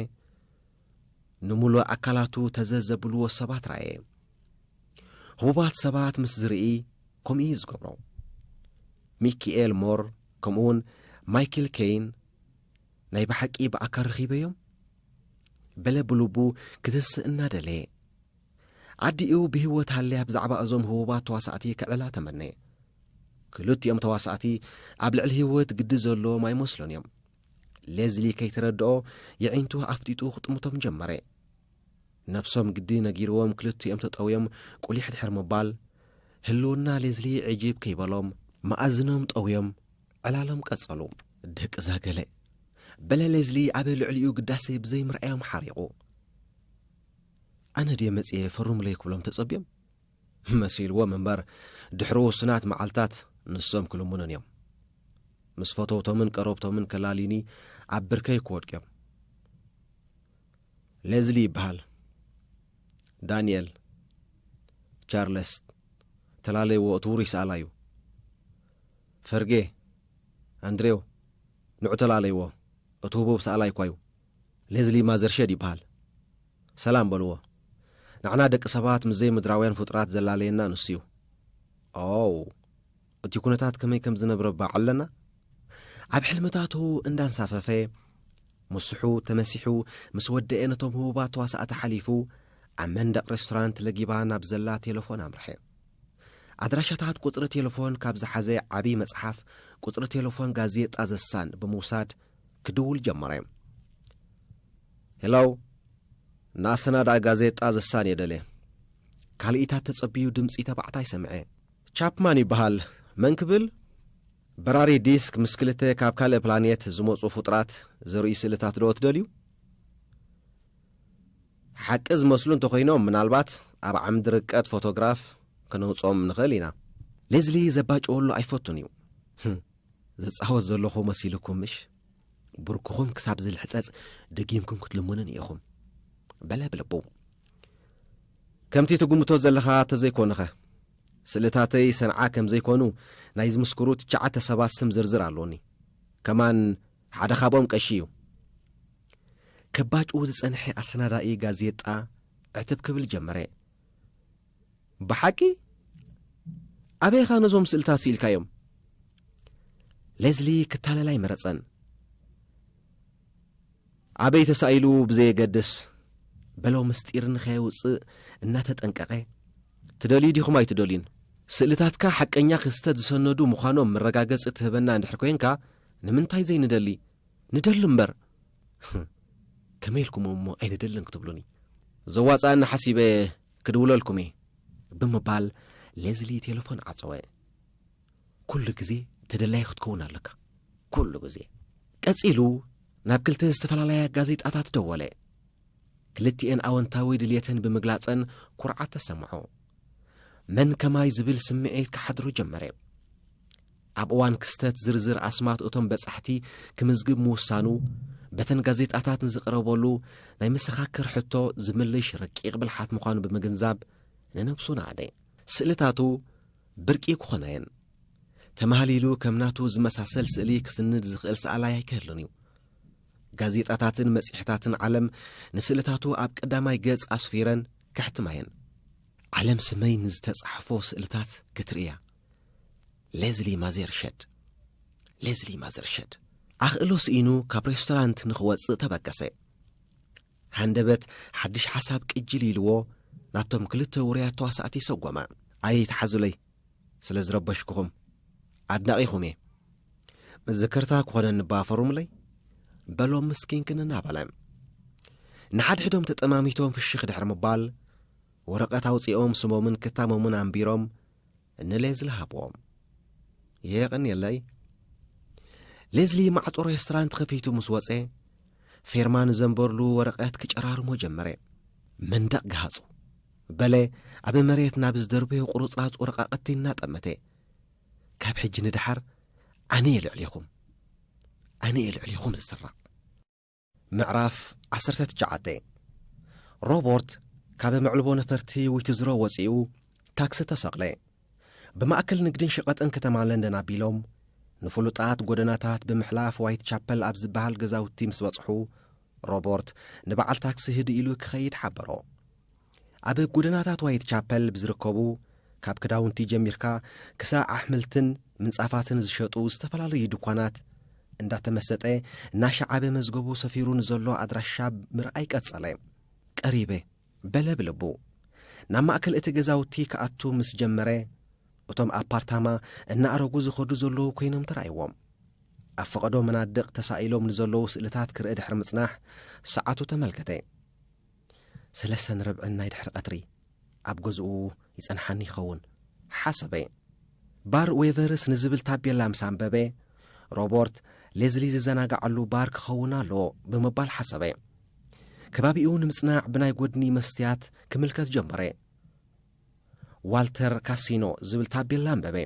ንምሉእ ኣካላቱ ተዘ ዘብልዎ ሰባት ረኣየ። ህቡባት ሰባት ምስ ዝርኢ ከምኡ እዩ ዝገብሮ። ሚኪኤል ሞር ከምኡውን ማይክል ኬይን ናይ ብሓቂ ብኣካል ርኺበዮም በለ ብልቡ ክትስእ እናደለየ ኣዲኡ ብህይወት ሃልያ ብዛዕባ እዞም ህቡባት ተዋሳእቲ ክዕላ ተመነ ክልቲኦም ተዋሳእቲ ኣብ ልዕሊ ህይወት ግዲ ዘለዎም ኣይመስሉን እዮም ሌዝሊ ከይተረድኦ የዒንቱ ኣፍጢጡ ክጥምቶም ጀመረ። ነብሶም ግዲ ነጊርዎም ክልቲኦም ተጠውዮም ቁሊሕ ድሕሪ ምባል ህልውና ሌዝሊ ዕጂብ ከይበሎም መኣዝኖም ጠውዮም ዕላሎም ቀጸሉ። ድቅዛ ገለ በለ ሌዝሊ ኣብ ልዕሊኡ ግዳሴ ብዘይምርኣዮም ሓሪቑ። ኣነ ድየ መጺኤ ፈርሙለይ ክብሎም ተጸብዮም መሲልዎም እምበር ድሕሪ ውሱናት መዓልታት ንሶም ክልሙኑን እዮም። ምስ ፈተውቶምን ቀረብቶምን ከላልዩኒ ኣብ ብርከይ ክወድቁ እዮም። ሌዝሊ ይበሃል። ዳንኤል ቻርለስ ተላለይዎ እቲ ውሩይ ሰኣላ እዩ። ፈርጌ ኣንድሬው ንዑ ተላለይዎ እቲ ህቡብ ሰኣላይ እኳ እዩ። ሌዝሊ ማዘርሸድ ይብሃል። ሰላም በልዎ። ንዓና ደቂ ሰባት ምስ ዘይምድራውያን ፍጡራት ዘላለየና ንሱ'ዩ። ኦው! እቲ ኩነታት ከመይ ከም ዝነብረ ባዕ ኣለና? ኣብ ሕልምታቱ እንዳንሳፈፈ፣ ምስሑ ተመሲሑ ምስ ወደኤ ነቶም ህቡባት ተዋሳእቲ ሓሊፉ፣ ኣብ መንደቕ ሬስቶራንት ለጊባ ናብ ዘላ ቴለፎን ኣምርሐ። ኣድራሻታት ቁጽሪ ቴለፎን ካብ ዝሓዘ ዓቢ መጽሓፍ ቁጽሪ ቴለፎን ጋዜጣ ዘሳን ብምውሳድ፣ ክድውል ጀመረ። ሄሎው ንኣሰናዳኢ ጋዜጣ ዘሳንዮ ደለ። ካልኢታት ተጸብዩ ድምጺ ተባዕታይ ሰምዐ። ቻፕማን ይበሃል። መን ክብል? በራሪ ዲስክ ምስ ክልተ ካብ ካልእ ፕላኔት ዝመጹ ፍጡራት ዘርእዩ ስእልታት ዶ ትደልዩ? ሓቂ ዝመስሉ እንተኾይኖም ምናልባት ኣብ ዓምዲ ርቀት ፎቶግራፍ ከነውጽኦም ንኽእል ኢና። ሌዝሊ ዘባጭወሉ ኣይፈቱን እዩ። ዝጻወት ዘለኹ መሲሉኩም ምሽ ብርኩኹም ክሳብ ዝልሕጸጽ ደጊምኩም ክትልሙንን ኢኹም በለ ብልቡ ከምቲ ትግምቶ ዘለኻ ተዘይኮንኸ ስእልታተይ ሰንዓ ከም ዘይኮኑ ናይ ዝምስክሩ ትሽዓተ ሰባት ስም ዝርዝር ኣሎኒ ከማን ሓደ ካብኦም ቀሺ እዩ ከባጭኡ ዝጸንሐ ኣሰናዳኢ ጋዜጣ ዕትብ ክብል ጀመረ ብሓቂ ኣበይ ኢኻ ነዞም ስእልታት ስኢልካዮም? ሌዝሊ ክታለል ኣይመረጸን። ኣበይ ተሳኢሉ ብዘየገድስ በሎ ምስጢር ንኸየውጽእ እናተጠንቀቐ። ትደልዩ ዲኹም ኣይትደልዩን? ስእልታትካ ሓቀኛ ክስተት ዝሰነዱ ምዃኖም መረጋገጺ ትህበና እንድሕር ኮይንካ ንምንታይ ዘይንደሊ? ንደሊ እምበር! ከመይ ኢልኩምም እሞ ኣይንደልን ክትብሉኒ ዘዋፅኣኒ ሓሲበ ክድውለልኩም እየ ብምባል ሌዝሊ ቴሌፎን ዓፀወ ኩሉ ግዜ ተደላይ ክትከውን ኣለካ ኩሉ ግዜ ቀፂሉ ናብ ክልተ ዝተፈላለያ ጋዜጣታት ደወለ ክልትኤን ኣወንታዊ ድልትን ብምግላፀን ኩርዓት ተሰምዖ መን ከማይ ዝብል ስምዒት ክሓድሩ ጀመረ ኣብ እዋን ክስተት ዝርዝር ኣስማት እቶም በጻሕቲ ክምዝግብ ምውሳኑ፣ በተን ጋዜጣታት ንዝቕረበሉ ናይ መሰኻክር ሕቶ ዝምልሽ ረቂቕ ብልሓት ምዃኑ ብምግንዛብ ንነብሱ ናኣደ። ስእልታቱ ብርቂ ክኾናየን። ተማህሊሉ ከም ናቱ ዝመሳሰል ስእሊ ክስንድ ዝኽእል ሰኣላይ ኣይክህሉን እዩ። ጋዜጣታትን መጽሔታትን ዓለም ንስእልታቱ ኣብ ቀዳማይ ገጽ ኣስፊረን ከሕትማየን። ዓለም ስመይ ንዝተጻሕፎ ስእልታት ክትርእያ ሌዝሊ ማዜርሸድ ሌዝሊ ማዘርሸድ ኣኽእሎ ስኢኑ ካብ ሬስቶራንት ንኽወጽእ ተበገሰ ሃንደበት ሓድሽ ሓሳብ ቅጅል ኢልዎ ናብቶም ክልተ ውርያት ተዋሳእቲ ሰጎመ ኣየ ይትሓዙለይ ስለ ዝረበሽኩኹም ኣድናቒኹም እየ መዘከርታ ክኾነኒ ባፈሩምለይ በሎም ምስኪንክን እናበለ ንሓድሕዶም ተጠማሚቶም ፍሽኽ ድሕሪ ምባል ወረቐት ኣውፂኦም ስሞምን ክታሞምን ኣንቢሮም ንሌዝሊ ሃብዎም የቕንየለይ ሌዝሊ ማዕፆ ሬስቶራንት ኸፊቱ ምስ ወፀ ፌርማ ንዘንበርሉ ወረቐት ክጨራርሞ ጀመረ መንደቕ ገሃፁ በለ ኣብ መሬት ናብ ዝደርበዮ ቁርፅራፅ ወረቓቕቲ እናጠመተ ካብ ሕጂ ንደሓር ኣነ እየ ልዕሊኹም ኣነ እየ ልዕሊኹም ዝስራቕ ምዕራፍ ዓሰርተ ትሽዓተ ሮቦርት ካብ መዕልቦ ነፈርቲ ዊትዝሮ ወጺኡ ታክሲ ተሰቕለ። ብማእከል ንግድን ሸቐጥን ከተማ ለንደን ኣቢሎም ንፍሉጣት ጎደናታት ብምሕላፍ ዋይት ቻፐል ኣብ ዝበሃል ገዛውቲ ምስ በጽሑ ሮቦርት ንበዓል ታክሲ ህድእ ኢሉ ክኸይድ ሓበሮ። ኣብ ጎደናታት ዋይት ቻፐል ብዝርከቡ ካብ ክዳውንቲ ጀሚርካ ክሳዕ ኣሕምልትን ምንጻፋትን ዝሸጡ ዝተፈላለዩ ድኳናት እንዳተመሰጠ እናሸዓበ መዝገቡ ሰፊሩ ንዘሎ ኣድራሻ ምርኣይ ቀጸለ። ቀሪበ በለ ብልቡ። ናብ ማእከል እቲ ገዛውቲ ክኣቱ ምስ ጀመረ እቶም ኣፓርታማ እናኣረጉ ዝኸዱ ዘለዉ ኮይኖም ተራእይዎም። ኣብ ፈቐዶ መናድቕ ተሳኢሎም ንዘለዉ ስእልታት ክርኢ ድሕሪ ምጽናሕ ሰዓቱ ተመልከተ። ሰለሰን ርብዕን ናይ ድሕሪ ቀትሪ ኣብ ገዝኡ ይጸንሓኒ ይኸውን ሓሰበ። ባር ዌቨርስ ንዝብል ታቤላ ምስ ኣንበበ፣ ሮቦርት ሌዝሊ ዝዘናጋዓሉ ባር ክኸውን ኣለዎ ብምባል ሓሰበ። ከባቢኡ ንምጽናዕ ብናይ ጎድኒ መስትያት ክምልከት ጀመረ። ዋልተር ካሲኖ ዝብል ታቤላ ኣንበበ።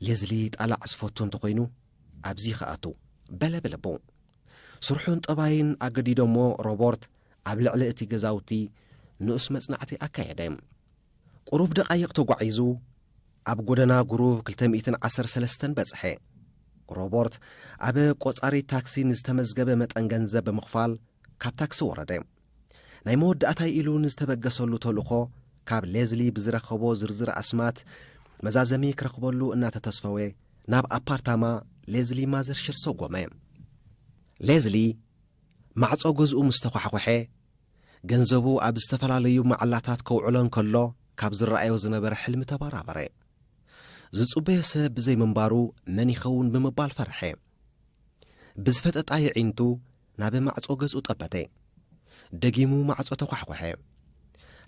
ሌዝሊ ጣላዕ ዝፈቱ እንተኾይኑ ኣብዚ ይኸኣቱ በለ ብልቡ። ስርሑን ጠባይን ኣገዲዶሞ ሮቦርት ኣብ ልዕሊ እቲ ገዛውቲ ንኡስ መጽናዕቲ ኣካየደ። ቁሩብ ደቓይቕ ተጓዒዙ ኣብ ጎደና ጉሩቭ ክልተ ሚእትን ዓሰርተ ሰለስተን በጽሐ። ሮቦርት ኣብ ቆጻሪት ታክሲ ንዝተመዝገበ መጠን ገንዘብ ብምኽፋል ካብ ታክሲ ወረደ። ናይ መወዳእታይ ኢሉ ንዝተበገሰሉ ተልእኾ ካብ ሌዝሊ ብዝረኸቦ ዝርዝር ኣስማት መዛዘሚ ክረኽበሉ እናተተስፈወ ናብ ኣፓርታማ ሌዝሊ ማዘርሽር ሰጎመ። ሌዝሊ ማዕጾ ገዝኡ ምስ ተዃሕዂሐ ገንዘቡ ኣብ ዝተፈላለዩ መዓላታት ከውዕሎ እንከሎ ካብ ዝረኣዮ ዝነበረ ሕልሚ ተባራበረ። ዝጽበዮ ሰብ ብዘይምንባሩ መን ይኸውን ብምባል ፈርሐ። ብዝፈጠጣ የዒንቱ ናብ ማዕጾ ገጹ ጠበተ። ደጊሙ ማዕጾ ተዃሕኰሐ።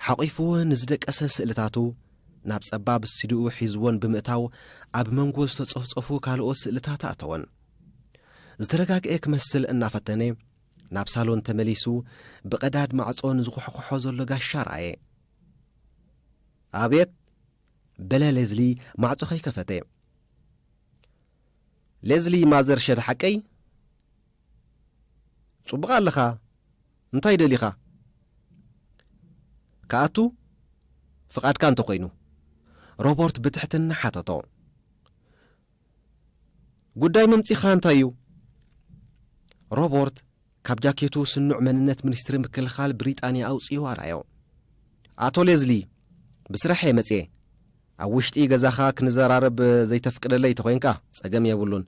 ሓቚፉወን ንዝደቀሰ ስእልታቱ ናብ ጸባብ ስቱዲዮኡ ሒዙወን ብምእታው ኣብ መንጎ ዝተጾፍጾፉ ካልኦት ስእልታት ኣእተወን። ዝተረጋግኤ ክመስል እናፈተነ ናብ ሳሎን ተመሊሱ ብቐዳድ ማዕጾ ንዝኾሕኮሖ ዘሎ ጋሻ ረኣየ። ኣቤት! በለ ሌዝሊ ማዕጾ ከይከፈተ። ሌዝሊ ማዘር ሸድ ሓቀይ ጽቡቅ ኣለኻ እንታይ ደሊኻ ክኣቱ ፍቃድካ እንተኾይኑ? ሮቦርት ብትሕትና ሓተቶ። ጉዳይ መምጺኻ እንታይ እዩ? ሮቦርት ካብ ጃኬቱ ስኑዕ መንነት ሚኒስትሪ ምክልኻል ብሪጣንያ ኣውጺኡ ኣርኣዮ። ኣቶ ሌዝሊ፣ ብስራሕ እየ መጺኤ። ኣብ ውሽጢ ገዛኻ ክንዘራረብ ዘይተፍቅደለይ ተኾይንካ ጸገም የብሉን።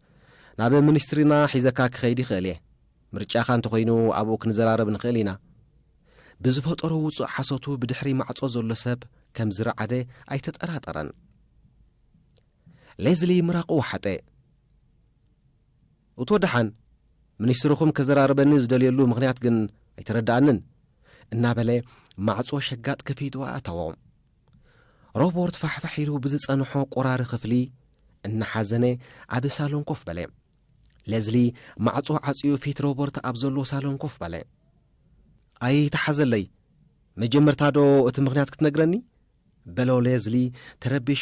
ናብ ሚኒስትሪና ሒዘካ ክኸይድ ይኽእል እየ። ምርጫኻ እንተኾይኑ ኣብኡ ክንዘራረብ ንኽእል ኢና። ብዝፈጠሮ ውጹእ ሓሶቱ ብድሕሪ ማዕጾ ዘሎ ሰብ ከም ዝረዓደ ኣይተጠራጠረን። ሌዝሊ ምራቑ ወሓጠ። እቶ ደሓን ሚኒስትርኹም ከዘራርበኒ ዝደልየሉ ምኽንያት ግን ኣይተረድኣንን፣ እናበለ ማዕጾ ሸጋጥ ከፊቱ ኣእተዎ። ሮቦርት ፋሕፋሕ ኢሉ ብዝጸንሖ ቆራሪ ክፍሊ እናሓዘነ ኣብ ሳሎን ኮፍ በለ። ለዝሊ ማዕጾ ዓጽዩ ፊት ሮቦርት ኣብ ዘሎ ሳሎን ኮፍ በለ። ኣይተሓዘለይ መጀመርታ ዶ እቲ ምኽንያት ክትነግረኒ? በሎ ሌዝሊ ተረቢሹ